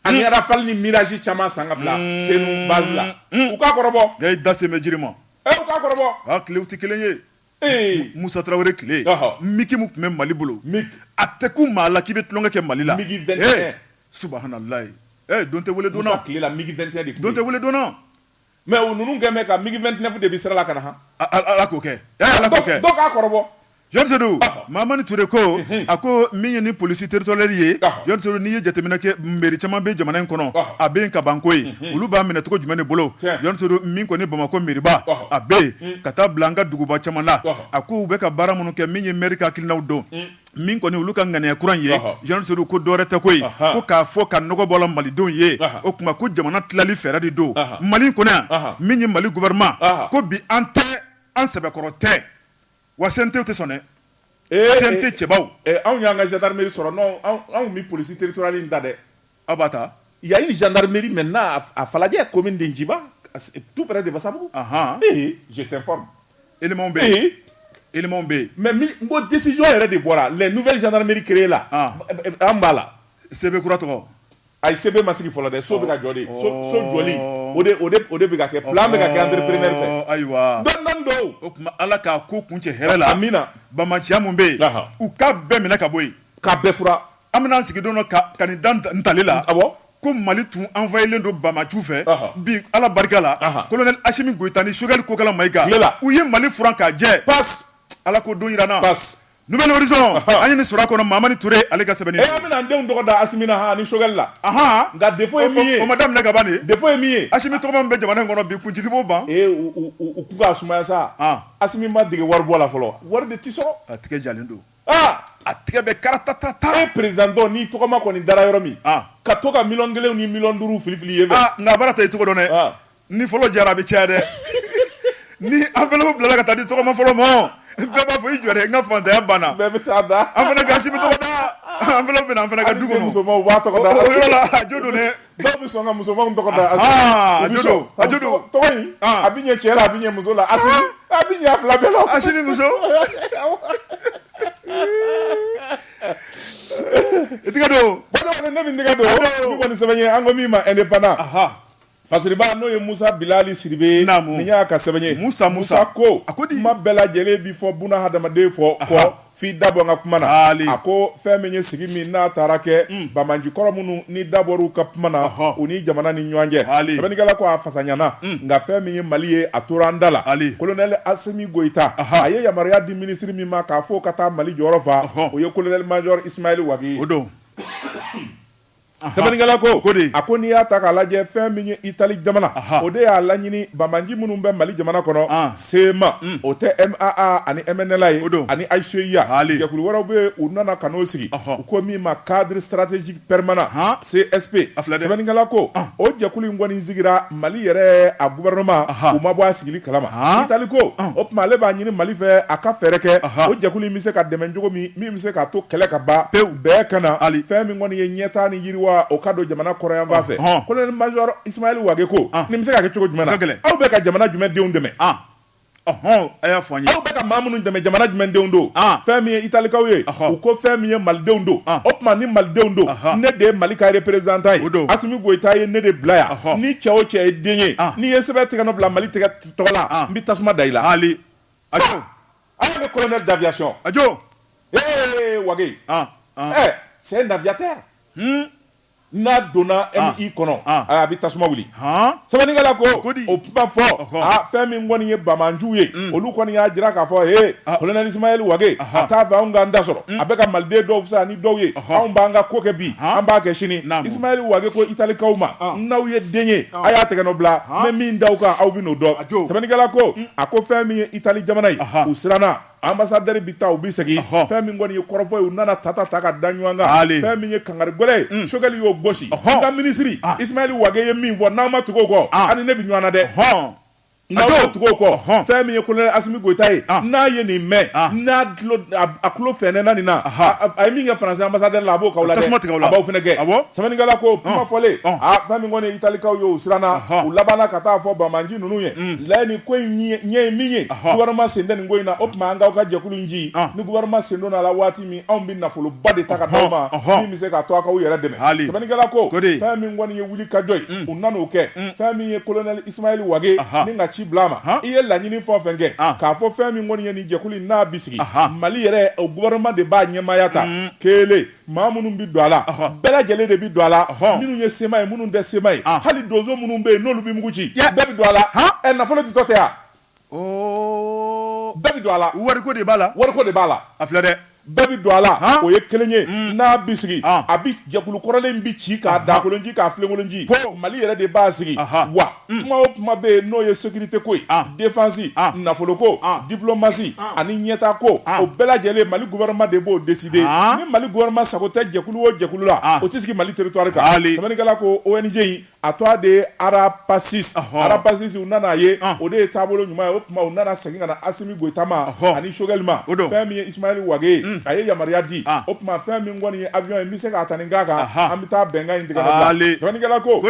ani hmm. Rafale ni Mirage caman san ka bila hmm. Senu base la. Hmm. U ka kɔrɔbɔ. Nka i da sen bɛ jiri ma. Ee eh, u ka kɔrɔbɔ. A tilew tɛ kelen ye. Ee. Musa Tarawele tile. Migi mun tun bɛ Mali bolo. Migi. A tɛ kun maa la k'i bɛ tulonkɛ kɛ Mali la. Migi 21. Eh, Subahanalayi. Ee eh, don tɛ wele donna. Musa tile la migi 21 de tun bɛ yen. Don tɛ wele donna. Mɛ o ninnu kɛmɛ ka migi 29 de bɛ sira la ka na ala k'o kɛ k'a kɔrɔbɔ Jean Sedou Mahamani Ture ko a ko min ye ni polisi territoriale ye Jean Sedou n'i ye jateminɛ kɛ mairie caman bɛ jamana in kɔnɔ a bɛ kabako ye olu b'a minɛ cogo jumɛn de bolo Jean Sedou min kɔni Bamakɔ mairieba a bɛ yen ka taa bila an ka duguba caman na a ko u bɛ ka baara minnu kɛ min ye mairie ka hakilinaw don min kɔni olu ka ŋaniya kura in ye Ɔhɔ. Jean Sedou ko dɔwɛrɛ tɛ ko ye Ahan. ko k'a fɔ ka nɔgɔ bɔ a la malidenw ye Ahan. o tuma ko jamana tilali fɛɛrɛ de don Ahan. Mali in kɔnɔ yan Ahan. min ye Mali gouvernement Ahan. ko bi an tɛ an sɛbɛkɔrɔ tɛ wa CNT tɛ sɔn dɛ Ee, CNT cɛbaw ee, anw y'an ka gendarmerie sɔrɔ non anw anw tun bɛ police territoriale in ta dɛ Aw b'a ta il y a une gendarmerie maintenant à Falajɛ commune de Nciba tout près de Basabugu, anhan, ee je t'informe éléments bɛ yen, éléments bɛ yen mais n ko décision yɛrɛ de bɔra les nouvelles gendarmeries créer la an b'a la CB kura tɔgɔ, ayi CB ma sigi fɔlɔ dɛ so bɛ ka jɔ de, so jɔli o de o de o de bɛ ka kɛ plan bɛ ka kɛ entrepreneur fɛ, ɔɔ, ayiwa, dɔɔnin dɔɔnin don, o tuma Ala ka ko kuncɛ hɛrɛ la, amina, banbaciya min bɛ yen, anhan, u k'a bɛɛ minɛ ka bɔ yen, k'a bɛɛ furan An bɛna an sigi don dɔ ka ka nin da n tali la, awɔ, ko Mali tun envahilen don Banbaciw fɛ, ɔhɔ, bi Ala barika la, ɔhɔ, colonel Asimi Goyita ni Choguel Kokala Mayiga, tile la, u ye Mali furan k'a jɛ, pas, Ala k'o don jira an na, pas, Nouvel Horizon, ɔhɔ, an ye nin sɔrɔ a kɔnɔ Mahamani Ture ale ka sɛbɛnni don, ee an bɛna an denw tɔgɔ da Asimi na han ani Choguel la, anhan, nka defaut ye min ye, o ma daminɛ ka ban de, defaut ye min ye, Asimi tɔgɔma min bɛ jamana in kɔnɔ bi kuncili b'o ban, ee u u u ko k'a sumaya sa, an, Asimi ma dege waribɔ la fɔlɔ wa, wari de tɛ sɔrɔ, a tigɛ jalen don. Aa a tigɛ bɛ karatatata e perezidan dɔ ni tɔgɔma kɔni dara yɔrɔ min ka to ka miliyɔn kelen ni miliyɔn duuru filifili ye nka baara ta i cogo dɔn dɛ ni fɔlɔ jara a bɛ caya dɛ ni enveloppe bilala ka taa di tɔgɔma fɔlɔ ma bɛɛ b'a fɔ i jɔ n ka faantanya banna bɛɛ bɛ taa da an fana ka Asimi tɔgɔ da enveloppe bɛ na an fana ka du kɔnɔ musomanw b'a tɔgɔ da a jo don dɛ dɔw bɛ sɔn ka musomanw tɔgɔ da Asimi Ahaa, a jo don, a jo don. tɔgɔ in Ɔn. a bɛ ɲɛ cɛ la a bɛ ɲɛ muso la Asimi a bɛ ɲɛ a fila bɛɛ la Asimi muso i tɛgɛ don Bada kɔni ne bɛ n tɛgɛ don ne kɔni sɛbɛn ye an ko min ma indépendant Aha. Fasiriba n'o ye Musa Bilali Sidibe ye Naamu. nin y'a ka sɛbɛn ye Musa, Musa. ko a ko di? kuma bɛɛ lajɛlen bɛ fɔ buna hadamaden fɔ kɔ F'i da bɔ n ka kuma na, haali, a ko fɛn min ye sigi min n'a taara kɛ, un, banbanci kɔrɔ minnu ni da bɔr'u ka kuma na, ɔhɔ, u ni jamana ni ɲɔgɔn cɛ, haali, sɛbɛnnikɛla ko a fasaɲana, un, nka fɛn min ye Mali ye a tora an da la, haali, Kolonɛli Asimi Goyita, aha, a ye yamaruya di minisiri min ma k'a fɔ o ka taa Mali jɔyɔrɔ fa, ɔhɔ, o ye Kolonɛli Majɔri Isimayɛli Wagi ye. O don. Sɛbɛnnikɛla ko, ko di? A ko n'i y'a ta k'a lajɛ fɛn min ye Itali jamana, o de y'a laɲini banbanci minnu bɛ Mali jamana kɔnɔ, CMA, o tɛ MAA ani MNLA ye, o don, ani HCUA, haali, jɛkulu wɛrɛw bɛ yen, u nana ka n'o sigi, u ko min ma cadre stratégique permanent, CSP, a filɛ dɛ, sɛbɛnnikɛla ko, o jɛkulu in kɔni sigira Mali yɛrɛ a gouvernement, u ma bɔ a sigili kalama, Itali ko, o tuma ale b'a ɲini Mali fɛ a ka fɛɛrɛ kɛ, o jɛkulu in bɛ se ka dɛmɛn cogo min bɛ se k'a to kɛlɛ ka ban pewu bɛɛ ka na hali fɛn min kɔni ye ɲɛtaa ni yiriwa o ka don jamana kɔrɔyanfan fɛ Ɔhɔn. colonel major Ismaël Wage ko An. nin bɛ se ka kɛ cogo jumɛn na A ka gɛlɛn. aw bɛ ka jamana jumɛn denw dɛmɛ an ɔhɔn a y'a fɔ an ye aw bɛ ka maa minnu dɛmɛ jamana jumɛn denw don An. fɛn min ye italikaw ye Ɔhɔn. u ko fɛn min ye malidenw don An. o tuma ni malidenw don Ahan. ne de ye mali ka représentant ye O don. asimi goyita ye ne de bila yan Ɔhɔn. ni cɛ o cɛ ye den ye An. n'i ye sɛbɛn tɛgɛnɔ bila mali tɔgɔ la An. n bɛ tasuma da i la hali a Ale de colonel d'aviation ajo ee Wage ɛɛ c'est un aviateur n'a donna MI kɔnɔ a bɛ tasuma wuli sɛbɛnnikɛla ko o kuma fɔ fɛn min kɔni ye banbanciw ye olu kɔni y'a jira k'a fɔ e colonel Ismaël Wage a t'a fɛ anw k'an ta sɔrɔ a bɛ ka maliden dɔw fisaya ni dɔw ye anw b'an ka ko kɛ bi an b'a kɛ sini Ismaël Wage ko italikaw ma n'aw ye den ye a y'a tɛgɛnɔ bila n bɛ min da aw kan aw bɛ n'o dɔn sɛbɛnnikɛla ko A ko fɛn min ye Italie jamana ye, anhan, u siranna ambassadeur bɛ taa u bɛ segin, ɔhɔ, fɛn min kɔni ye kɔrɔfɔ ye u nana tata ta ka da ɲɔgɔn kan, haali, fɛn min ye kangari gɛlɛn ye, un, Choguel y'o gosi, ɔhɔ, an ka minisiri, an, Ismaël Wague ye min fɔ n'aw ma tugu o kɔ, an, a ni ne bɛ ɲɔgɔn na dɛ, ɔhɔn, n'aw ma tugu o kɔ, ɔhɔn, fɛn min ye Colonel Assimi Goïta ye, an, n'a ye nin mɛn, an, n'a tulo, a tulo fɛɛnɛna nin na, aha, a, a ye min kɛ France ambassadeur la a b'o k'aw la dɛ, a bɛ tasuma tigɛ aw la, a b'aw fana gɛn, awɔ, sɛbɛnnikɛla ko kuma fɔlen, ɔn, aa fɛn min kɔni ye Italie kaw ye u siranna, ɔhɔn, u labanna ka taa fɔ banbanci ninnu ye la nin ko in ɲɛ ye min ye gouvernement sen tɛ nin ko in na o tuma an k'aw ka jɛkulu in ci ni gouvernement sen donna a la waati min anw bɛ nafoloba de ta ka d'aw ma min bɛ se k'a to a k'aw yɛrɛ dɛmɛ hali sɛbɛnnikɛla ko fɛn min kɔni ye wuli ka jɔ ye u nan'o kɛ fɛn min ye colonel Ismaël Wage nin ka ci bila a ma i ye laɲini fɛn o fɛn kɛ k'a fɔ fɛn min kɔni ye nin jɛkulu in n'a bɛ sigi mali yɛrɛ o gouvernement de b'a ɲɛmaaya ta kelen maa minnu bɛ don a la bɛɛ lajɛlen de bɛ don a la minnu ye CMA ye minnu tɛ CMA ye ah. hali donso minnu bɛ yen n'olu bɛ mugu ci bɛɛ bɛ don a la ɛ nafolo ditɔ tɛ yan oh. bɛɛ bɛ don a la wariko de b'a la wariko de b'a la a filɛ dɛ bɛɛ bɛ don a la o ye kelen ye mm. n'a bɛ sigi ah. a bɛ jɛkulu kɔrɔlen bɛ ci k'a dakolonci k'a filenkolonci mali yɛrɛ de b'a sigi wa kuma o kuma bɛ yen n'o ye sécurité ko ye défense nafolo ko diplomasi ani ɲɛtaa ko o bɛɛ lajɛlen Mali gouvernement de b'o décider ni Mali gouvernement sago tɛ jɛkulu o jɛkulu la o tɛ sigi Mali territoire kan sɛbɛnnikɛla ko ONG in a tɔgɔ de ye Arapacis Arapacis u nana a ye o de ye taabolo ɲuman ye o tuma u nana segin ka na Assimi Goyita ma ani Choguel ma fɛn min ye Ismaël Wague ye a ye yamaruya di o tuma fɛn min kɔni ye avion ye n bɛ se k'a ta nin k'a kan an bɛ taa bɛnkan in tigɛ ka bila sɛbɛnnikɛla ko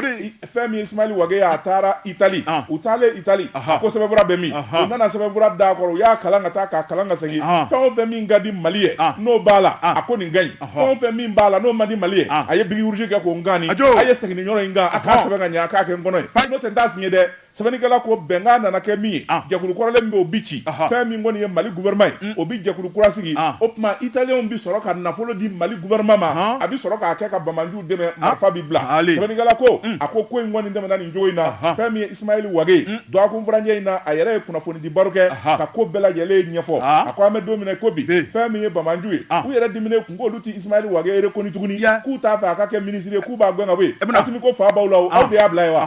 fɛn min ye Ismail Wage a taara Italie ah. u taalen Italie a ko sɛbɛnfura bɛ min u nana sɛbɛnfura d'a kɔrɔ u y'a kalan ka taa k'a kalan ka segin ah. fɛn o fɛn min ka di Mali ye ah. n'o b'a la a ko nin ka ɲi fɛn o fɛn min b'a la n'o man di Mali ye a ye biki rouge kɛ k'o ngani a ye segin ni yɔrɔ in kan a k'a sɛbɛn ka ɲɛ a k'a kɛ n kɔnɔ ye n'o tɛ n t'a signé dɛ sɛbɛnnikɛla ko bɛnkan nana kɛ min ye ah. jɛkulu kɔrɔlen min bɛ o bi ci fɛn min kɔni ye mali gouvernement ye mm. o bi jɛkulu kura sigi ah. o tuma italiyɛnw bi sɔrɔ ka nafolo di mali gouvernement ma a bi sɔrɔ k'a kɛ ka banbaanciw dɛmɛ ah. marifa bi bila sɛbɛnnikɛla ko mm. a ko ko in kɔni tɛmɛna nin cogo in na fɛn min ye isimayɛli wage mm. dɔgɔkun furancɛ in na a yɛrɛ ye kunnafoni di baro kɛ ka ko bɛɛ lajɛlen ɲɛfɔ ah. a ko an bɛ don min na ko bi fɛn min ye banbaanciw ye ah. u yɛrɛ diminen kun k'olu tɛ isimayɛli wage reconnu tuguni k'u t'a fɛ a ka kɛ minisiri ye k'u b'a gɛn ka bɔ yen eh, asimi ko fa b'aw la o aw de y'a bila ye wa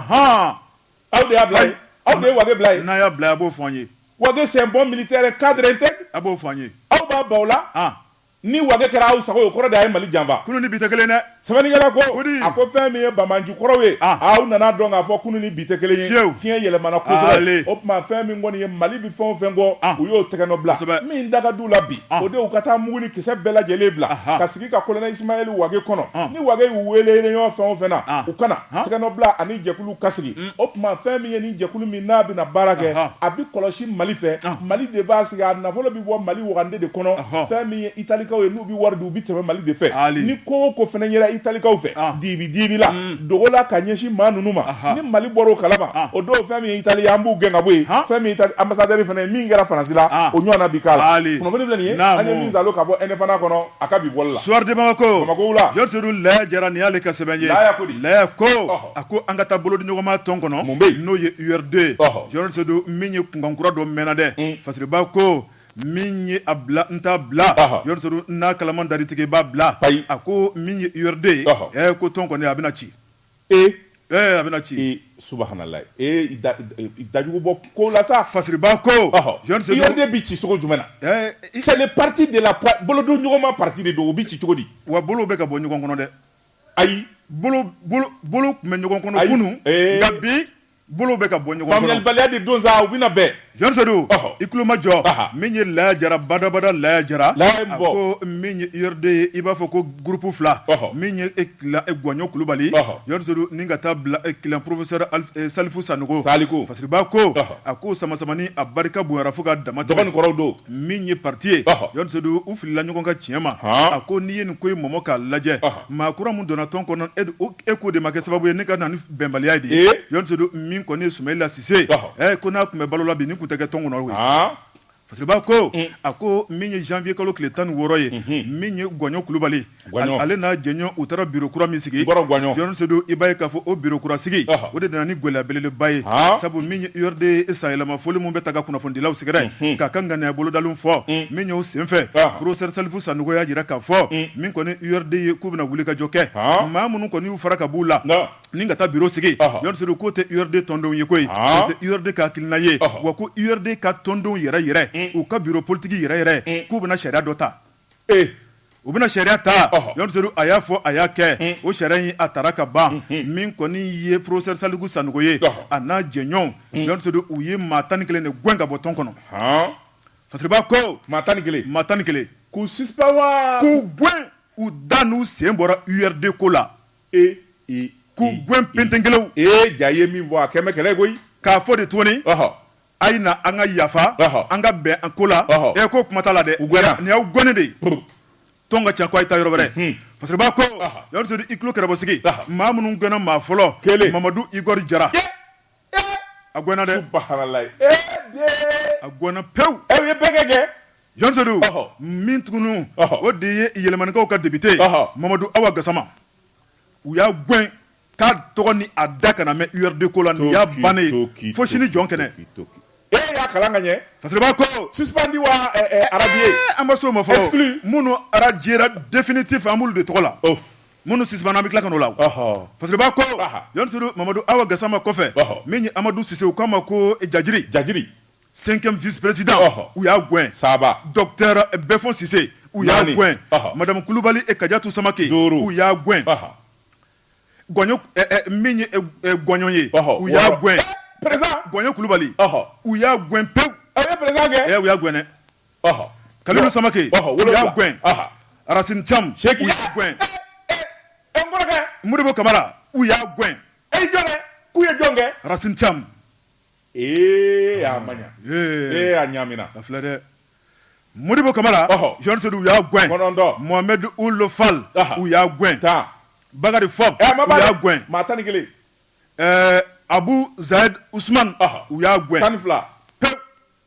aw de y'a bila ye aw de ye wage bila ye n'a y'a bila a b'o fɔ an ye wage c'est un bon militaire cadre intègre a b'o fɔ an ye aw fa b'aw la Ni wage kɛra aw sago ye, o kɔrɔ de a ye Mali janfa. Kunu ni bi tɛ kelen ye dɛ! Sɛbɛnnikɛla ko, a ko fɛn min ye banbaanci kɔrɔw ye, aw nana a dɔn k'a fɔ kunu ni bi tɛ kelen ye. Fiɲɛ yɛlɛmana kosɛbɛ. O tuma fɛn min kɔni ye Mali bɛ fɛn o fɛn kɔ, u y'o tɛgɛnɔbila. Min da ka di u la bi, o de ye u ka taa mugu ni kisɛ bɛɛ lajɛlen bila ka sigi ka kolonɛ Isimayɛli wage kɔnɔ. Ni wage y'u weele réunion fɛn o fɛn na, u ka na. Tɛgɛnɔbila ani jɛkulu ka sigi. O tuma fɛn min ye ni jɛkulu min n'a bɛna baara kɛ a bɛ kɔlɔsi mali fɛ mali de b'a sigi a nafolo bɛ bɔ mali wagande de kɔnɔ fɛn min ye italikaw ye n'u bɛ wari di u bɛ tɛmɛ mali de fɛ ni ko o ko fana yera italikaw fɛ dibi dibi la dogo la ka ɲɛsin maa ninnu ma ni mali bɔra o kalama o don fɛn min ye itali an b'u gɛn ka bɔ yen fɛn min ye ambassadeur fana ye min kɛra Faransi la o ɲɔgɔn bi k'a la an ye min sɔrɔ ka bɔ Indépendant kɔnɔ a ka bi bɔli la Soir de Bamako la Laya Jara ni y'ale ka sɛbɛn ko A ko an ka taa bolodiɲɔgɔnma tɔn kɔnɔ n'o ye URD ye Georges Seydou min ye kunkankura dɔ mɛnna dɛ Fasiriba ko min ye a bila n t'a bila Georges Seydou n'a kalaman dari tigɛ i b'a bila ayi a ko min ye URD ye ɛ ko tɔn kɔni a bɛna ci ee a bɛna ci subhanallah dajugu bɔ ko la sa Fasiriba ko URD bɛ ci cogo jumɛn c'est le parti de la bolodiɲɔgɔnma parti de don u bɛ ci cogo di wa bolo bɛ ka bɔ ɲɔgɔn kɔnɔ dɛ ayi bolo tun bɛ ɲɔgɔn kɔnɔ kunun nka bi bolo bɛ ka bɔ ɲɔgɔn kɔnɔ faamuyalibaliya de don u bɛna bɛn jɔn sedu i tulomajɔ min ye laya jara badabada laya jara a ko min ye URD ye i b'a fɔ ko groupe fila min ye e gɔɲɔ kulubali jɔn sedu ni ka taa bila e professeur salifu sanɔgɔ fasiriba ko a ko samasamani a barika bonyara fo ka dama tɛmɛ kɔrɔ don min ye pati ye jɔn sedu u filila ɲɔgɔn ka tiɲɛ ma a ko n'i ye nin ko in mɔmɔ k'a lajɛ maa kura min donna tɔn kɔnɔ e ko de ma kɛ sababu ye ni ka na ni bɛnbaliya de ye jɔn sedu min kɔni ye sumayila sise ye ko n'a tun bɛ balo la bi nin tun tɛ kɛ tɔn kɔnɔ fasiriba ko a ko min ye janvier kalo tile tan ni wɔɔrɔ ye min ye gɔɲɔ kulubali Guagnon. Ale n'a jɛɲɔgɔn u taara biro kura min sigi Nkɔrɔ Guagnon. John Sedu i b'a ye k'a fɔ o biro kura sigi Ɔhɔ. o de nana ni gɛlɛya belebeleba ye Han. sabu min ye URD sanyɛlɛmafoli min bɛ taa ka kunnafonidilaw sɛgɛrɛ k'a ka ŋaniya bolodalenw fɔ min y'o senfɛ Ɔhɔ. professeur Salifu Sanogo y'a jira k'a fɔ min kɔni URD ye k'u bɛna wulikajɔ kɛ Han. maa minnu kɔni y'u fara ka b'u la Nka. ni ka taa biro sigi Ɔhɔ. John Sedu k'o tɛ URD tɔndenw ye koyi Han. o tɛ URD ka hakilina ye Ɔhɔ. wa ko URD ka tɔndenw yɛrɛ yɛrɛ u ka biro politiki yɛrɛ yɛrɛ k'u bɛna sariya dɔ ta u bɛna sariya ta jɔn sedu a y'a fɔ a y'a kɛ o sariya in a taara ka ban min kɔni ye professeur salifu sanɔgɔ ye a n'a jɛɲɔgɔnw jɔn sedu u ye maa tan ni kelen de gɛn ka bɔ tɔn kɔnɔ fasiriba ko maa tan ni kelen maa tan ni kelen k'u suspendu wa k'u gɛn u da n'u sen bɔra URD ko la e k'u gɛn pentenkelew ee ja ye min fɔ a kɛmɛ kɛlɛ koyi k'a fɔ de tuguni a ye na an ka yafa an ka bɛn an ko la e ko kuma t'a la dɛ nin y'aw gɛnnen de ye tɔn ka ca ko a ye taa yɔrɔ wɛrɛ fasiriba ko jɔn sedu i tulo kɛrɛbɔ sigi maa minnu gɛnna maa fɔlɔ kelen mamadu igɔri jara a gɛnna dɛ a gɛnna pewu aw ye bɛnkɛ kɛ jɔn sedu min tugun o de ye yelimanekaw ka depite mamadu awa gasama u y'a gɛn k'a tɔgɔ ni a da kana mɛn URD ko la nin y'a bannen ye fo sini jɔn kɛnɛ. Ee y'a kalan ka ɲɛ. Fasiriba ko. Suspendu wa radié. Ee an ma s'o ma fɔlɔ. Exclu. Minnu radiera definitif an b'olu de tɔgɔ la. Of. Minnu suspendra an bɛ tila ka na o la. Ɔhɔ. Fasiriba ko. Aha. Jɔn Sedu Mamadu Awa Gasama kɔfɛ. Ɔhɔ. Min ye Amadu Sise u k'a ma ko Jajiri. Jajiri. Cinquième vice président. Ɔhɔ. U y'a gɛn. Saba. Docteur Bɛfɔn Sise. Naani. U y'a gɛn. Ɔhɔ. Madamu Kulubali et Kajatu Samake. Duuru. U y'a gɛn. Ɔhɔ. gɔɲɔ eh, eh, min ye eh, gɔɲɔ ye u y'a gɛn gɔɲɔ kulubali u y'a gɛn pewu u y'a gɛn dɛ kalilu samake u y'a gɛn arasini cam u y'a gɛn modibo kamara u y'a gɛn k'u ye jɔn kɛ arasini cam Ee a ma ee a ɲamina a filɛ dɛ Modibo Kamara Jani Sedu u y'a gɛn Mohamed Ould Fall u y'a gɛn tan Bakari Fomba u y'a gɛn maa tan ni kelen Abu Zaid Usumani u y'a gɛn tan ni fila pe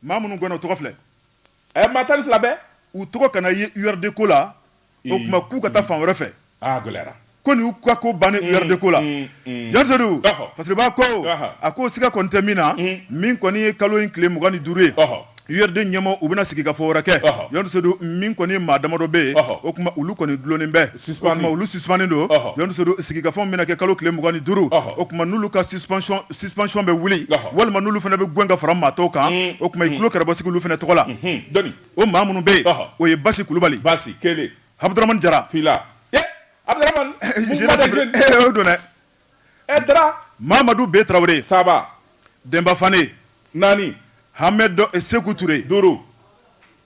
Maa minnu gɛnna, o tɔgɔ filɛ. Ɛ maa tan ni fila bɛɛ. U tɔgɔ kana ye URD ko la, o tuma k'u ka taa fan wɛrɛ fɛ. Aa a gɛlɛyara. Ko nin y'u ka ko bannen ye URD ko la. Jani Sedu, Fasiriba ko, a ko siga kɔni tɛ min na, min kɔni ye kalo in tile mugan ni duuru ye, URD ɲɛmɔɔw u bɛna sigikafɔ wɛrɛ kɛ. Jani Sedu, min kɔni maa damadɔ bɛ yen, o tuma olu kɔni dulonnen bɛ. olu suspendu don Jani Sedu sigikafɔ bɛna kɛ kalo tile mugan ni duuru o tuma n'olu ka suspension bɛ wuli walima n'olu fana bɛ gɛn ka fara maa tɔw kan o tuma i tulo kɛrɛba sigi olu fana tɔgɔ la o maa minnu bɛ yen o ye basi kulubali basi kelen Abdramane jara fila Mamadu B tarawele saba Denba Fane naani Hamed Seku Ture duuru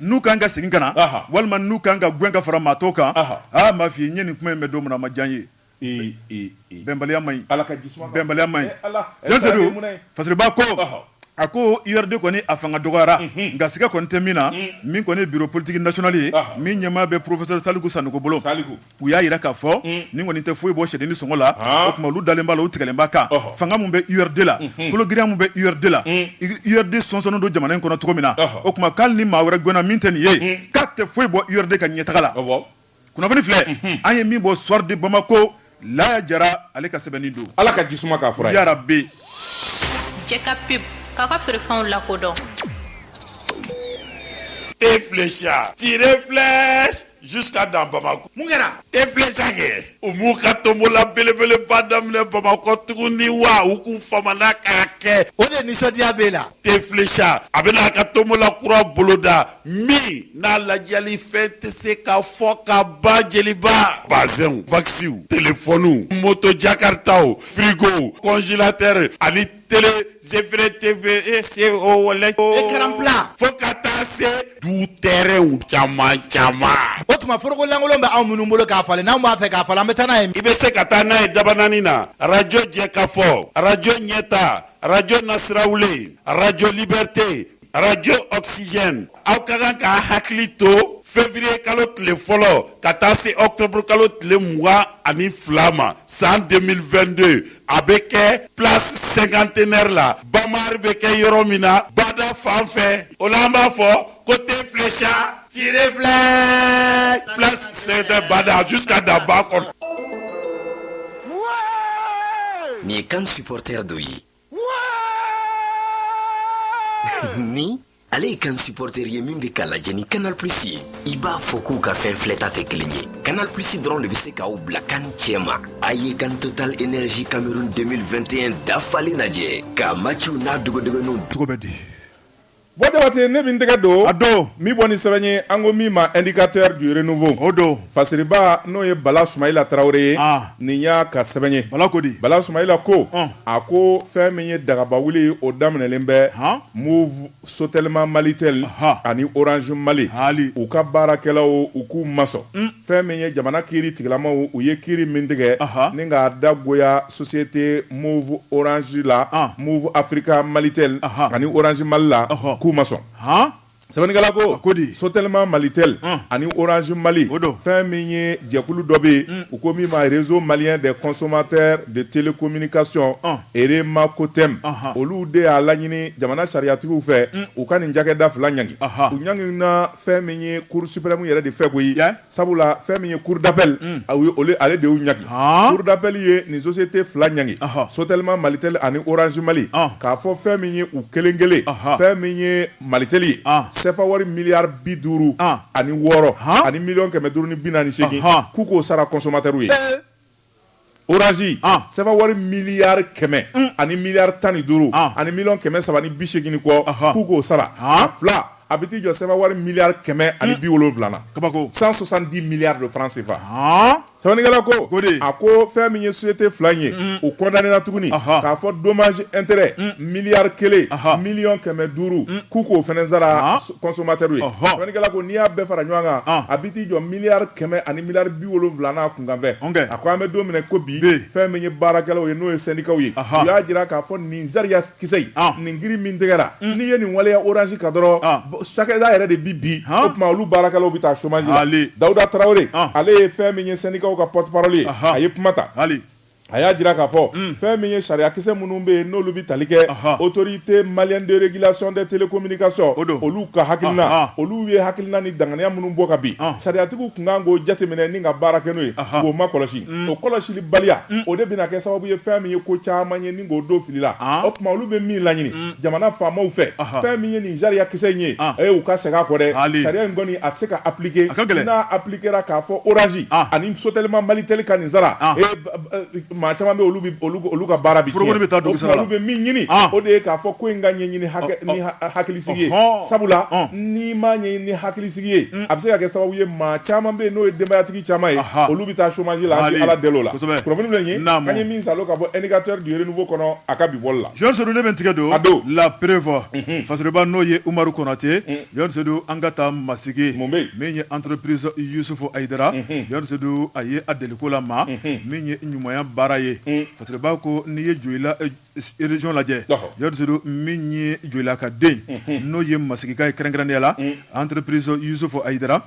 n'u kan ka segin ka na walima n'u kan ka gɛn ka fara maa tɔw kan aa m'a f'i ye n ye nin kuma in mɛn don min na a ma diya n ye bɛnbaliya man ɲi bɛnbaliya man ɲi Jani Sedu Fasiriba ko a ko URD kɔni a fanga dɔgɔyara nka siga kɔni tɛ min na min kɔni ye bureau politique national ye min ɲɛmaa bɛ professeur Saliku Sanogo bolo. u y'a jira k'a fɔ mm. nin kɔni tɛ foyi bɔ sɛdennin sɔngɔ la ah. o tuma olu dalen b'a la u tigɛlen b'a kan fanga min bɛ urd la mm-hmm. kologirinya min bɛ urd la mm. urd sɔnsɔnnen don jamana in kɔnɔ cogo min na o tuma k'ali ni maa wɛrɛ gɛnna min tɛ nin ye mm. k'a tɛ foyi bɔ urd ka ɲɛtaga la kunnafoni filɛ mm-hmm. an ye min bɔ soir de bamako laya jara ale ka sɛbɛnni don ala ka jisuma k'a fura yarabi jɛka pub k'a ka feerefɛnw lakodɔn te flecha tire flèche Jusqu'à dans Bamako. Mun kɛra? Te flecha kɛ, u m'u ka tonbola belebeleba daminɛ Bamakɔ tuguni wa? U kun famana k'a kɛ. O de nisɔndiya b'e la? Te flecha, a bɛna a ka tonbola kura boloda min n'a ladiyali fɛn tɛ se ka fɔ ka ban, Jeliba. Bazɛnw, vakisiw, telefɔniw, moto jakaritaw, firigow, kɔnjilatɛri ani. tele zefere teve e se o wala écran plat fo ka taa se du tɛrɛnw caman caman o tuma foroko lankolon bɛ anw minnu bolo k'a falen n'anw b'a fɛ k'a falen an bɛ taa n'a ye i bɛ se ka taa n'a ye dabanani na arajo jɛkafɔ arajo ɲɛta arajo nasirawulen arajo libɛrite arajo oxygène aw ka kan k'a hakili to fevrier kalo tile fɔlɔ ka taa se octobre kalo tile mugan ani fila ma san 2022 a bɛ kɛ place cinquantenaire la Bama Art bɛ kɛ yɔrɔ min na bada fan fɛ o la an b'a fɔ ko te flecha tire flèche place cinquantenaire bada jusqu'à daba kɔnɔ nin ye kan supporter dɔ ye ni ale ye kan supporter ye min bɛ k'a lajɛ ni canal plus ye i b'a fɔ k'u ka fɛn filɛta tɛ kelen ye canal plus dɔrɔn de bɛ se k'aw bila kan cɛ ma a ye kan total énergie cameroun 2021 dafalen lajɛ k'a matchiw n'a dogodogoninw cogo bɛ di Bon jabate ne bɛ n tɛgɛ don a don min bɔ ni sɛbɛn ye an ko min ma indicateur du renouveau o don Fasiriba n'o ye Bala Sumayila Tarawele ye nin y'a ka sɛbɛn ye Bala ko di Bala Sumayila ko a ko fɛn min ye dagaba wuli o daminɛlen bɛ Moov Sotelma Malitel ani Orange Mali hali u ka baarakɛlaw u k'u ma sɔn Fɛn min ye jamana kiiri tigilamaw u ye kiiri min tigɛ ni k'a dagoya société Moov Orange la Moov Africa Malitel ani Orange Mali la k'u ma sɔn sɛbɛnnikɛla ko ko di Sotelma Malitel ani Orange Mali o don fɛn min ye jɛkulu dɔ bɛ yen u ko min ma réseau malien des consommateurs de télécommunication REMACOTEM olu de y'a laɲini jamana sariyatigiw fɛ u ka nin cakɛda fila ɲangi u ɲangi na fɛn min ye cour suprême yɛrɛ de fɛ koyi sabula fɛn min ye cour d'appel ale de y'u ɲangi cour d'appel ye nin société fila ɲangi Sotelma Malitel ani Orange Mali k'a fɔ fɛn min ye u kelen kelen fɛn min ye Malitel ye CFA wari miliyari bi duuru ani wɔɔrɔ ani miliyɔn kɛmɛ duuru ni bi naani ni seegin k'u k'o sara consommateurs ye. Orange sefa wari miliyari kɛmɛ ani miliyari tan ni duuru ani miliyɔn kɛmɛ saba ni biseegin kɔ k'u k'o sara a fila a bɛ t'i jɔ sefa wari miliyari kɛmɛ ani bi wolonwula kabako cent soixante-dix milliards de francs CFA sɛbɛnnikɛla ko ko a ko fɛn min ye société fila ye u condamné na tuguni k'a fɔ dommage intérêt miliyari kelen miliyɔn kɛmɛ duuru k'u k'o fɛnɛ sara consommateur ye sɛbɛnnikɛla ko n'i y'a bɛɛ fara ɲɔgɔn kan a bɛ t'i jɔ miliyari kɛmɛ ani miliyari bi wolonwula kunkanfɛn, ok, a ko an bɛ don min na i ko bi, bi, fɛn min ye baarakɛlaw ye n'o ye sɛndikaw ye, ɔhɔ, u y'a jira k'a fɔ nin sariya kisɛ in, an, nin kiri min tigɛra, un, n'i ye nin waleya orange kan dɔrɔn, an, cakɛda yɛrɛ de bɛ bin, han, o tuma olu baarakɛlaw bɛ taa chômage la, haali, Dawuda Tarawele, an, ale ye fɛn min ye sɛndikaw ka porte-parole ye, ɔhɔ, a ye kuma ta, haali. A y'a jira k'a fɔ fɛn min ye sariyakisɛ minnu bɛ yen n'olu bɛ tali kɛ autorité malienne de régulation des télécommunications olu ka hakilina olu ye hakilina ni danganiya minnu bɔ ka bin sariyatigiw tun kan k'o jateminɛ ni ka baara kɛ n'o ye k'o ma kɔlɔsi o kɔlɔsili baliya o de bɛna kɛ sababu ye fɛn min ye ko caman ye ni k'o don fili la o tuma olu bɛ min laɲini jamana faama fɛ fɛn min ye nin sariyakisɛ in ye a u ka segin a kɔ dɛ sariya in kɔni a tɛ se ka appliquer kɛra k'a fɔ orange ah. ani Sotelma Malitel ka nin sara ah. eh, maa caman bɛ olu olu ka baara bi forokoni bɛ taa dugu sara la olu bɛ min ɲini ah. o de ye k'a fɔ ko in ka ɲɛɲini oh, oh. ni hakilisigi ye oh, sabula n'i ma ɲɛɲini ni hakilisigi ye mm. a bɛ se ka kɛ sababu ye maa caman bɛ yen n'o ye denbayatigi caman ye olu bɛ taa chômage la an bɛ ala deli o la kunnafoni bɛ yen an ye min salo ka bɔ indicateur du renouveau kɔnɔ a ka bi bɔli la Jean Seydou ne bɛ n tigɛ don la preuve mhm. Fasiriba n'o ye Umaru Konate mm. Jean Seydou an ka taa Masigi, mun bɛ yen? min ye entreprise Yusufu Ayidara, Jean Seydou a ye a deliko la maa min ye ɲumanya baara ye, Fasiriba ko n'i ye Joyila région lajɛ, Jean Seydou min ye Joyila ka den, n'o ye Masigika ye kɛrɛnkɛrɛnnenya la entreprise Yusufu Ayidara,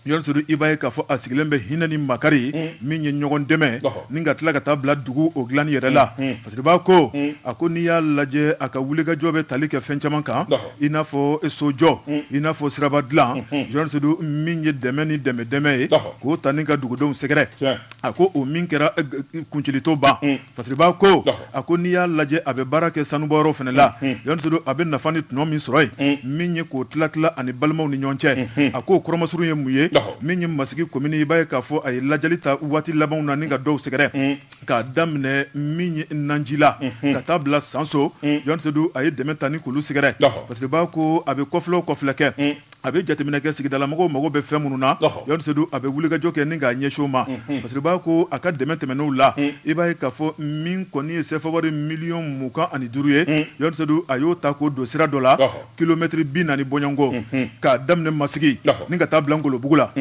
Jean Seydou i b'a ye k'a fɔ a sigilen bɛ hinɛ ni makari min ye ɲɔgɔndɛmɛ ni ka tila ka taa bila dugu o dilanni yɛrɛ la. Fasiriba ko a ko n'i y'a lajɛ a ka wulikajɔ bɛ tali kɛ fɛn caman kan i n'a fɔ sojɔ i n'a fɔ siraba dilan Jean Seydou min ye dɛmɛ ni dɛmɛ dɛmɛ ye k'o ta ni ka dugudenw sɛgɛrɛ a ko o min kɛra kuncɛli to ban Fasiriba ko a ko n'i y'a lajɛ a bɛ baara kɛ sanubɔyɔrɔ fana la Jean Seydou a bɛ nafa ni tɔnɔ min sɔrɔ yen min ye k'o tila tila ani balimaw ni ɲɔgɔn cɛ a k'o kɔrɔ masurun ye mun ye min ye masigi komini i b'a ye k'a fɔ a ye lajɛli ta waati labanw na ni ka dɔw sɛgɛrɛ K'a daminɛ min ye Nanji la ka taa bila Sanso Jean Seydou a ye dɛmɛ ta ni k'olu sɛgɛrɛ Fasiriba ko a bɛ kɔfilɛ o kɔfilɛ kɛ a bɛ jateminɛ kɛ sigidalamɔgɔw mago bɛ fɛn minnu na Jean Seydou a bɛ wulikajɔ kɛ ni k'a ɲɛsin o ma Fasiriba ko a ka dɛmɛ tɛmɛnenw la i b'a ye k'a fɔ min kɔni ye sefa wari miliyɔn mugan ani duuru ye Jean Seydou a y'o ta k'o don sira dɔ la kilomɛtiri bi naani bɔɲɔgɔnko k'a daminɛ masigi ni ka taa bila Ngolobugu la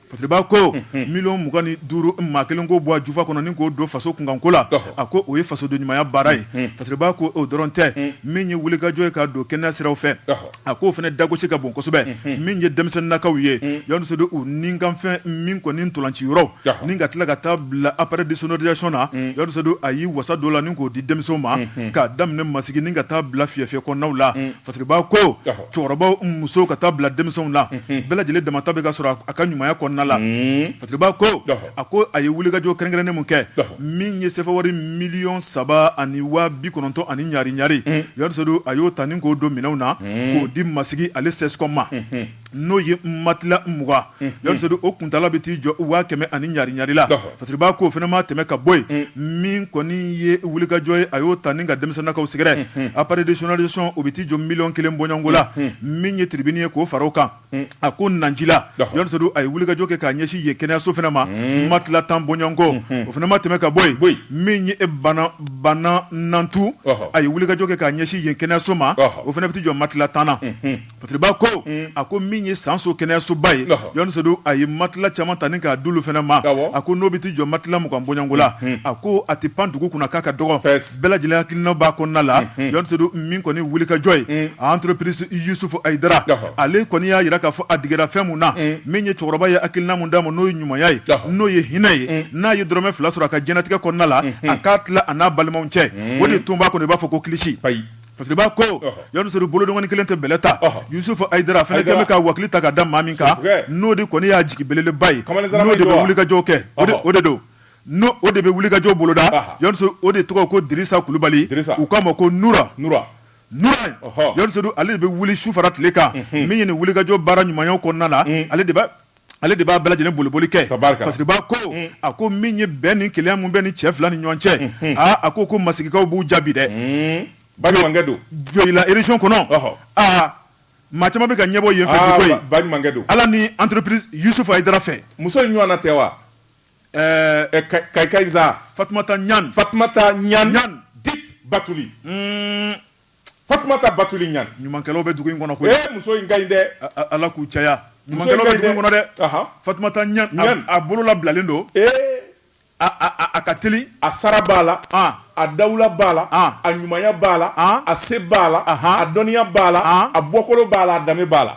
Fasiriba ko miliyɔn mugan ni duuru maa kelen k'o bɔ a jufa kɔnɔ ni k'o don faso kunkanko la a ko o ye fasoden ɲumanya baara ye Fasiriba ko o dɔrɔn tɛ min ye wulikajɔ ye k'a don kɛnɛya sira fɛ a k'o fana dagosi ka bon kosɛbɛ min ye denmisɛnninakaw ye Jean Seydou u nikanfɛn min kɔni nin ntolaci yɔrɔ ni ka tila ka taa bila appareil de sonorisation na Jean Seydou a y'i wasa don o la ni k'o di denmisɛnw ma k'a daminɛ masigi ni ka taa bila Fiyɛfiyɛ kɔnɔnaw la Fasiriba ko cɛkɔrɔbaw musow ka taa bila denmisɛnw na bɛɛ lajɛlen damata bɛ ka sɔrɔ a ka ɲumanya kɔnɔna la Fasiriba ko a ko a ye wulikajɔ kɛrɛnkɛrɛnnen min kɛ min ye sefa wari miliyɔn saba ani waa bi kɔnɔntɔn ani ɲari ɲari Jean Seydou a y'o ta ni k'o don minɛnw na k'o di masigi ale CSCOM ma n'o ye matila mugan Jean Seydou o kuntaala bɛ t'i jɔ waa kɛmɛ ani ɲari la Fasiriba ko o fana ma tɛmɛ ka bɔ yen min kɔni ye wulikajɔ ye a y'o ta ni ka denmisɛnninakaw sɛgɛrɛ appareil de sonorisation o bɛ t'i jɔ miliyɔn kelen bɔɲɔgɔnko la min ye tribune ye k'o fara o kan a ko Nanji la Jean Seydou a ye wulikajɔ kɛ k'a ɲɛsin yen kɛnɛyaso fana ma matila tan bɔɲɔgɔnko o fana ma tɛmɛ ka bɔ yen min ye e bana banna nantu a ye wulikajɔ kɛ k'a ɲɛsin yen kɛnɛyaso ma o fana bɛ t'i jɔ matila tan na Fasiriba ko a ko min ye sanso kɛnɛyasoba ye Jean Seydou a ye matila caman ta ni k'a d'olu fana ma a ko n'o bɛ t'i jɔ matila mugan bɔɲɔgɔnko la a ko a tɛ pan dugu kunna k'a ka dɔgɔ bɛɛ lajɛlen hakilina b'a kɔnɔna la Jean Seydou min kɔni wulikajɔ ye entreprise Yusufu Ayidara ale kɔni y'a jira k'a fɔ a digira fɛn min na min ye cɛkɔrɔba ye hakilina min d'a ma n'o ye ɲumanya ye n'o ye hinɛ ye n'a ye dɔrɔmɛ fila sɔrɔ a ka diɲɛnatigɛ kɔnɔna la a k'a tila a n'a balimaw cɛ o de tun b'a kɔnɔ i b'a fɔ ko kilisi Fasiriba ko Jean Seydou bolodɔngɔni kelen tɛ bɛlɛ ta Yusufu Ayidara a fana kɛlen bɛ ka wakili ta ka da maa min kan n'o de kɔni y'a jigi belebeleba ye n'o de bɛ wulikajɔw kɛ o de don o de bɛ wulikajɔ boloda Jean Seydou o de tɔgɔ ko Dirisa Kulubali u k'a ma ko Nura Jean Seydou ale de bɛ wuli su fara tile kan min ye nin wulikajɔ baara ɲumanya kɔnɔna la ale de b'a bɛɛ lajɛlen boliboli kɛ Fasiriba ko a ko min ye bɛn ni kelenya min bɛ ni cɛ fila ni ɲɔgɔn cɛ aaa a ko ko masigikaw b'u jaabi dɛ balimakɛ don Joyila région kɔnɔ aa maa caman bɛ ka ɲɛbɔ yen balimakɛ don ala ni entreprise Yusufu Ayidara fɛ muso in ɲɔgɔn tɛ wa kaka Fatumata Ɲan Fatu Ɲan dit Batuli Fatumata Batuli Ɲan ɲumankɛlaw bɛ dugu in kɔnɔ koyi muso in ka ɲi dɛ ala k'u caya ɲumankɛlaw bɛ dugu kɔnɔ dɛ Fatumata Ɲan a bolo labilalen don ee a ka teli a sara b'a la a dawula b'a la a ɲumanya b'a la a se b'a la a dɔnniya b'a la a bɔkolo b'a la a danbe b'a la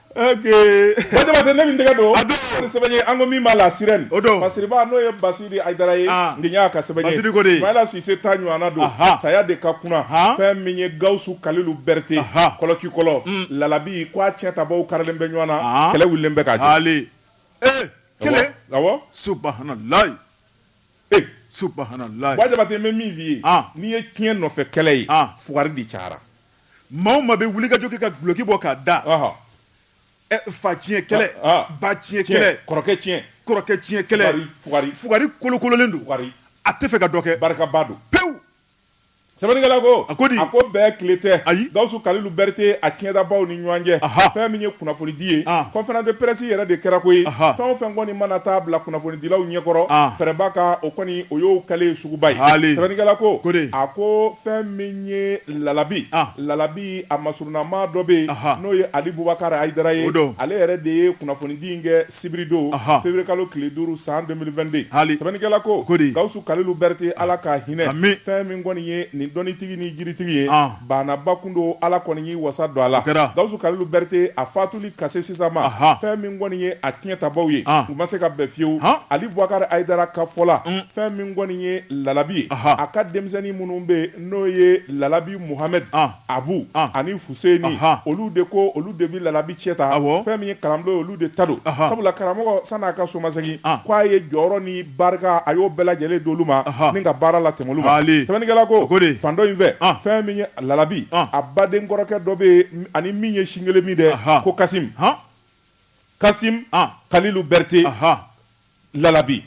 Jabate ne min tɛgɛ don sɛbɛn ye an ko min ma La Sirène o don Basiriba n'o ye Basidi Ayidara ye nin y'a ka sɛbɛnko de Sumayila Sise ta ɲɔgɔn don saya de ka kunna fɛn min ye Gawusu Kalilu Berete kɔlɔkikɔlɔ Lalabi ko a tiɲɛtabaw karilen bɛ ɲɔgɔn na kɛlɛ wulilen bɛ ka taa kelen subhanalayi subhanalayi Jabate n bɛ min f'i ye n'i ye tiɲɛ nɔfɛ kɛlɛ ye fugari de cayara maa o maa bɛ wulikajɔ kɛ ka duloki bɔ k'a da fa tiɲɛ kɛlɛ ba tiɲɛ kɛlɛ kɔrɔkɛ tiɲɛ kɛlɛ fugari kolokololen don a tɛ fɛ ka dɔ kɛ barikaba don pewu sɛbɛnnikɛla ko a ko di a ko bɛɛ tile tɛ ayi Gawusu Kalilu Berete a tiɲɛtabaw ni ɲɔgɔn cɛ fɛn min ye kunnafonidi ye conférence de presse yɛrɛ de kɛra koyi fɛn o fɛn kɔni mana taa bila kunnafonidilaw ɲɛkɔrɔ fɛrɛba ka o kɔni o y'o kɛlen suguba ye sɛbɛnnikɛla ko a ko fɛn min N ye Lalabi Lalabi a masurunnama dɔ bɛ yen n'o ye Ali Bubakari Ayidara ye ale yɛrɛ de ye kunnafonidi in kɛ sibiridon février kalo tile duuru san 2022 sɛbɛnnikɛla ko Gawusu Kalilu Berete ala ka hinɛ fɛn min kɔni ye nin dɔnnitigi ni jiritigi ye banaba kun don ala kɔni y'i wasa don a la Gawusu Kalilu Berete a fatuli ka se sisan ma fɛn min kɔni ye a tiɲɛtabaw ye u ma se ka bɛn fiyewu Ali Bubakari Ayidara ka fɔ la fɛn min kɔni ye Lalabi ye a ka denmisɛnnin minnu bɛ yen n'o ye lalabi muhamɛdi abu ani fuseni olu de ko olu de bɛ lalabi cɛn ta fɛn min ye kalanbulon olu de ta don sabula karamɔgɔ san'a ka somasegin k' a ye jɔyɔrɔ ni barika a y'o bɛɛ lajɛlen d'olu ma ni ka baara latɛmɛ olu ma sɛbɛnnikɛla ko fan dɔ in fɛ fɛn min ye lalabi a baden kɔrɔkɛ dɔ bɛ yen ani min ye sin kelen min dɛ ko kasi kasim kalilu berete lalabi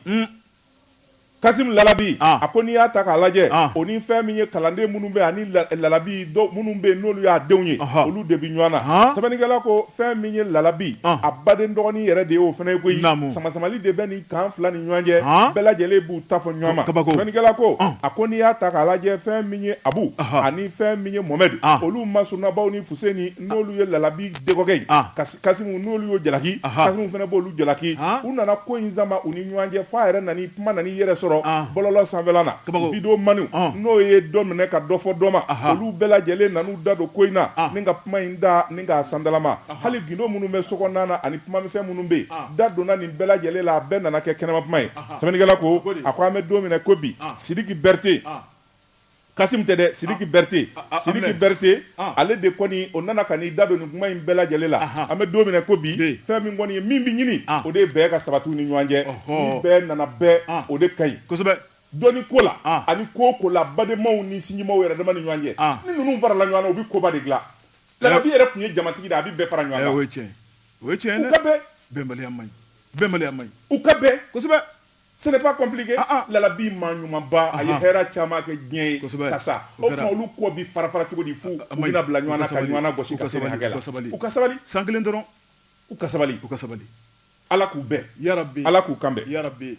Kasim Lalabi, an. a ko n'i y'a ta k'a lajɛ, an. o ni fɛn min ye kalanden minnu bɛ ani la- lalabi dɔw minnu bɛ yen n'olu y'a denw ye, Ɔhɔ. olu de bɛ ɲɔgɔn na. Han. Sɛbɛnnikɛla ko fɛn min ye lalabi, An. a baden dɔgɔnin yɛrɛ de ye o fana ye koyi. Naamu. Samasamali de bɛ nin kan fila ni ɲɔgɔn cɛ, Han. bɛɛ lajɛlen b'u ta fɔ ɲɔgɔn ma. Kabako. Sɛbɛnnikɛla ko, An. a ko n'i y'a ta k'a lajɛ fɛn min ye Abu Ɔhɔ. ani fɛn min ye Mohamɛdi, An. olu masurunnabaw ni Fuseni n'olu ye lalabi dɔgɔkɛ ye kasim n'olu y'o jalaki kasim fana b'olu jalaki u nana ko in sama u ni ɲɔgɔn cɛ f'a yɛrɛ nana kuma nan'i yɛrɛ sɔrɔ bɔlɔlɔ sanfɛla na video man n'o ye dɔ minɛ ka dɔ fɔ dɔ ma olu bɛɛ lajɛlen nan'u da don ko in na ni ka kuma in da ni ka sandalama hali gindo minnu bɛ sokɔnɔna na ani kumamisɛn minnu bɛ yen da donna nin bɛɛ lajɛlen la a bɛɛ nana kɛ kɛnɛma kuma ye sɛbɛnnikɛla ko a ko an bɛ don min na ko bi sidiki berete Kasim tɛ dɛ siriki berete siriki berete ale de kɔni o nana ka n'i da don nin kuma in bɛɛ lajɛlen la an bɛ don min na ko bi fɛn min kɔni ye min bɛ ɲini o de ye bɛn ka sabati u ni ɲɔgɔn cɛ ni bɛɛ nana bɛn o de ka ɲi kosɛbɛ dɔnni ko la ani ko o ko la badenmaw ni sinjimaw yɛrɛ dama ni ɲɔgɔn cɛ ni ninnu farala ɲɔgɔn na u bɛ koba de dilan lalabi yɛrɛ tun ye jamatigi dɛ a bɛ bɛɛ fara ɲɔgɔn kan o ye tiɲɛ dɛ bɛnbaliya man ɲi bɛnbaliya man ɲi u ka bɛn kosɛbɛ Ce n'est pas compliqué ah, ah. lalabi maa ɲumanba a ye hɛrɛ caman kɛ diɲɛ ye ka sa o tuma olu kɔ bi fara fara cogo di fu u bɛna bila ɲɔgɔn na ka ɲɔgɔn na gosi ka se nin hakɛ la u ka sabali san kelen dɔrɔn u ka sabali u ka sabali ala k'u bɛn yarabi ala k'u kanbɛn yarabi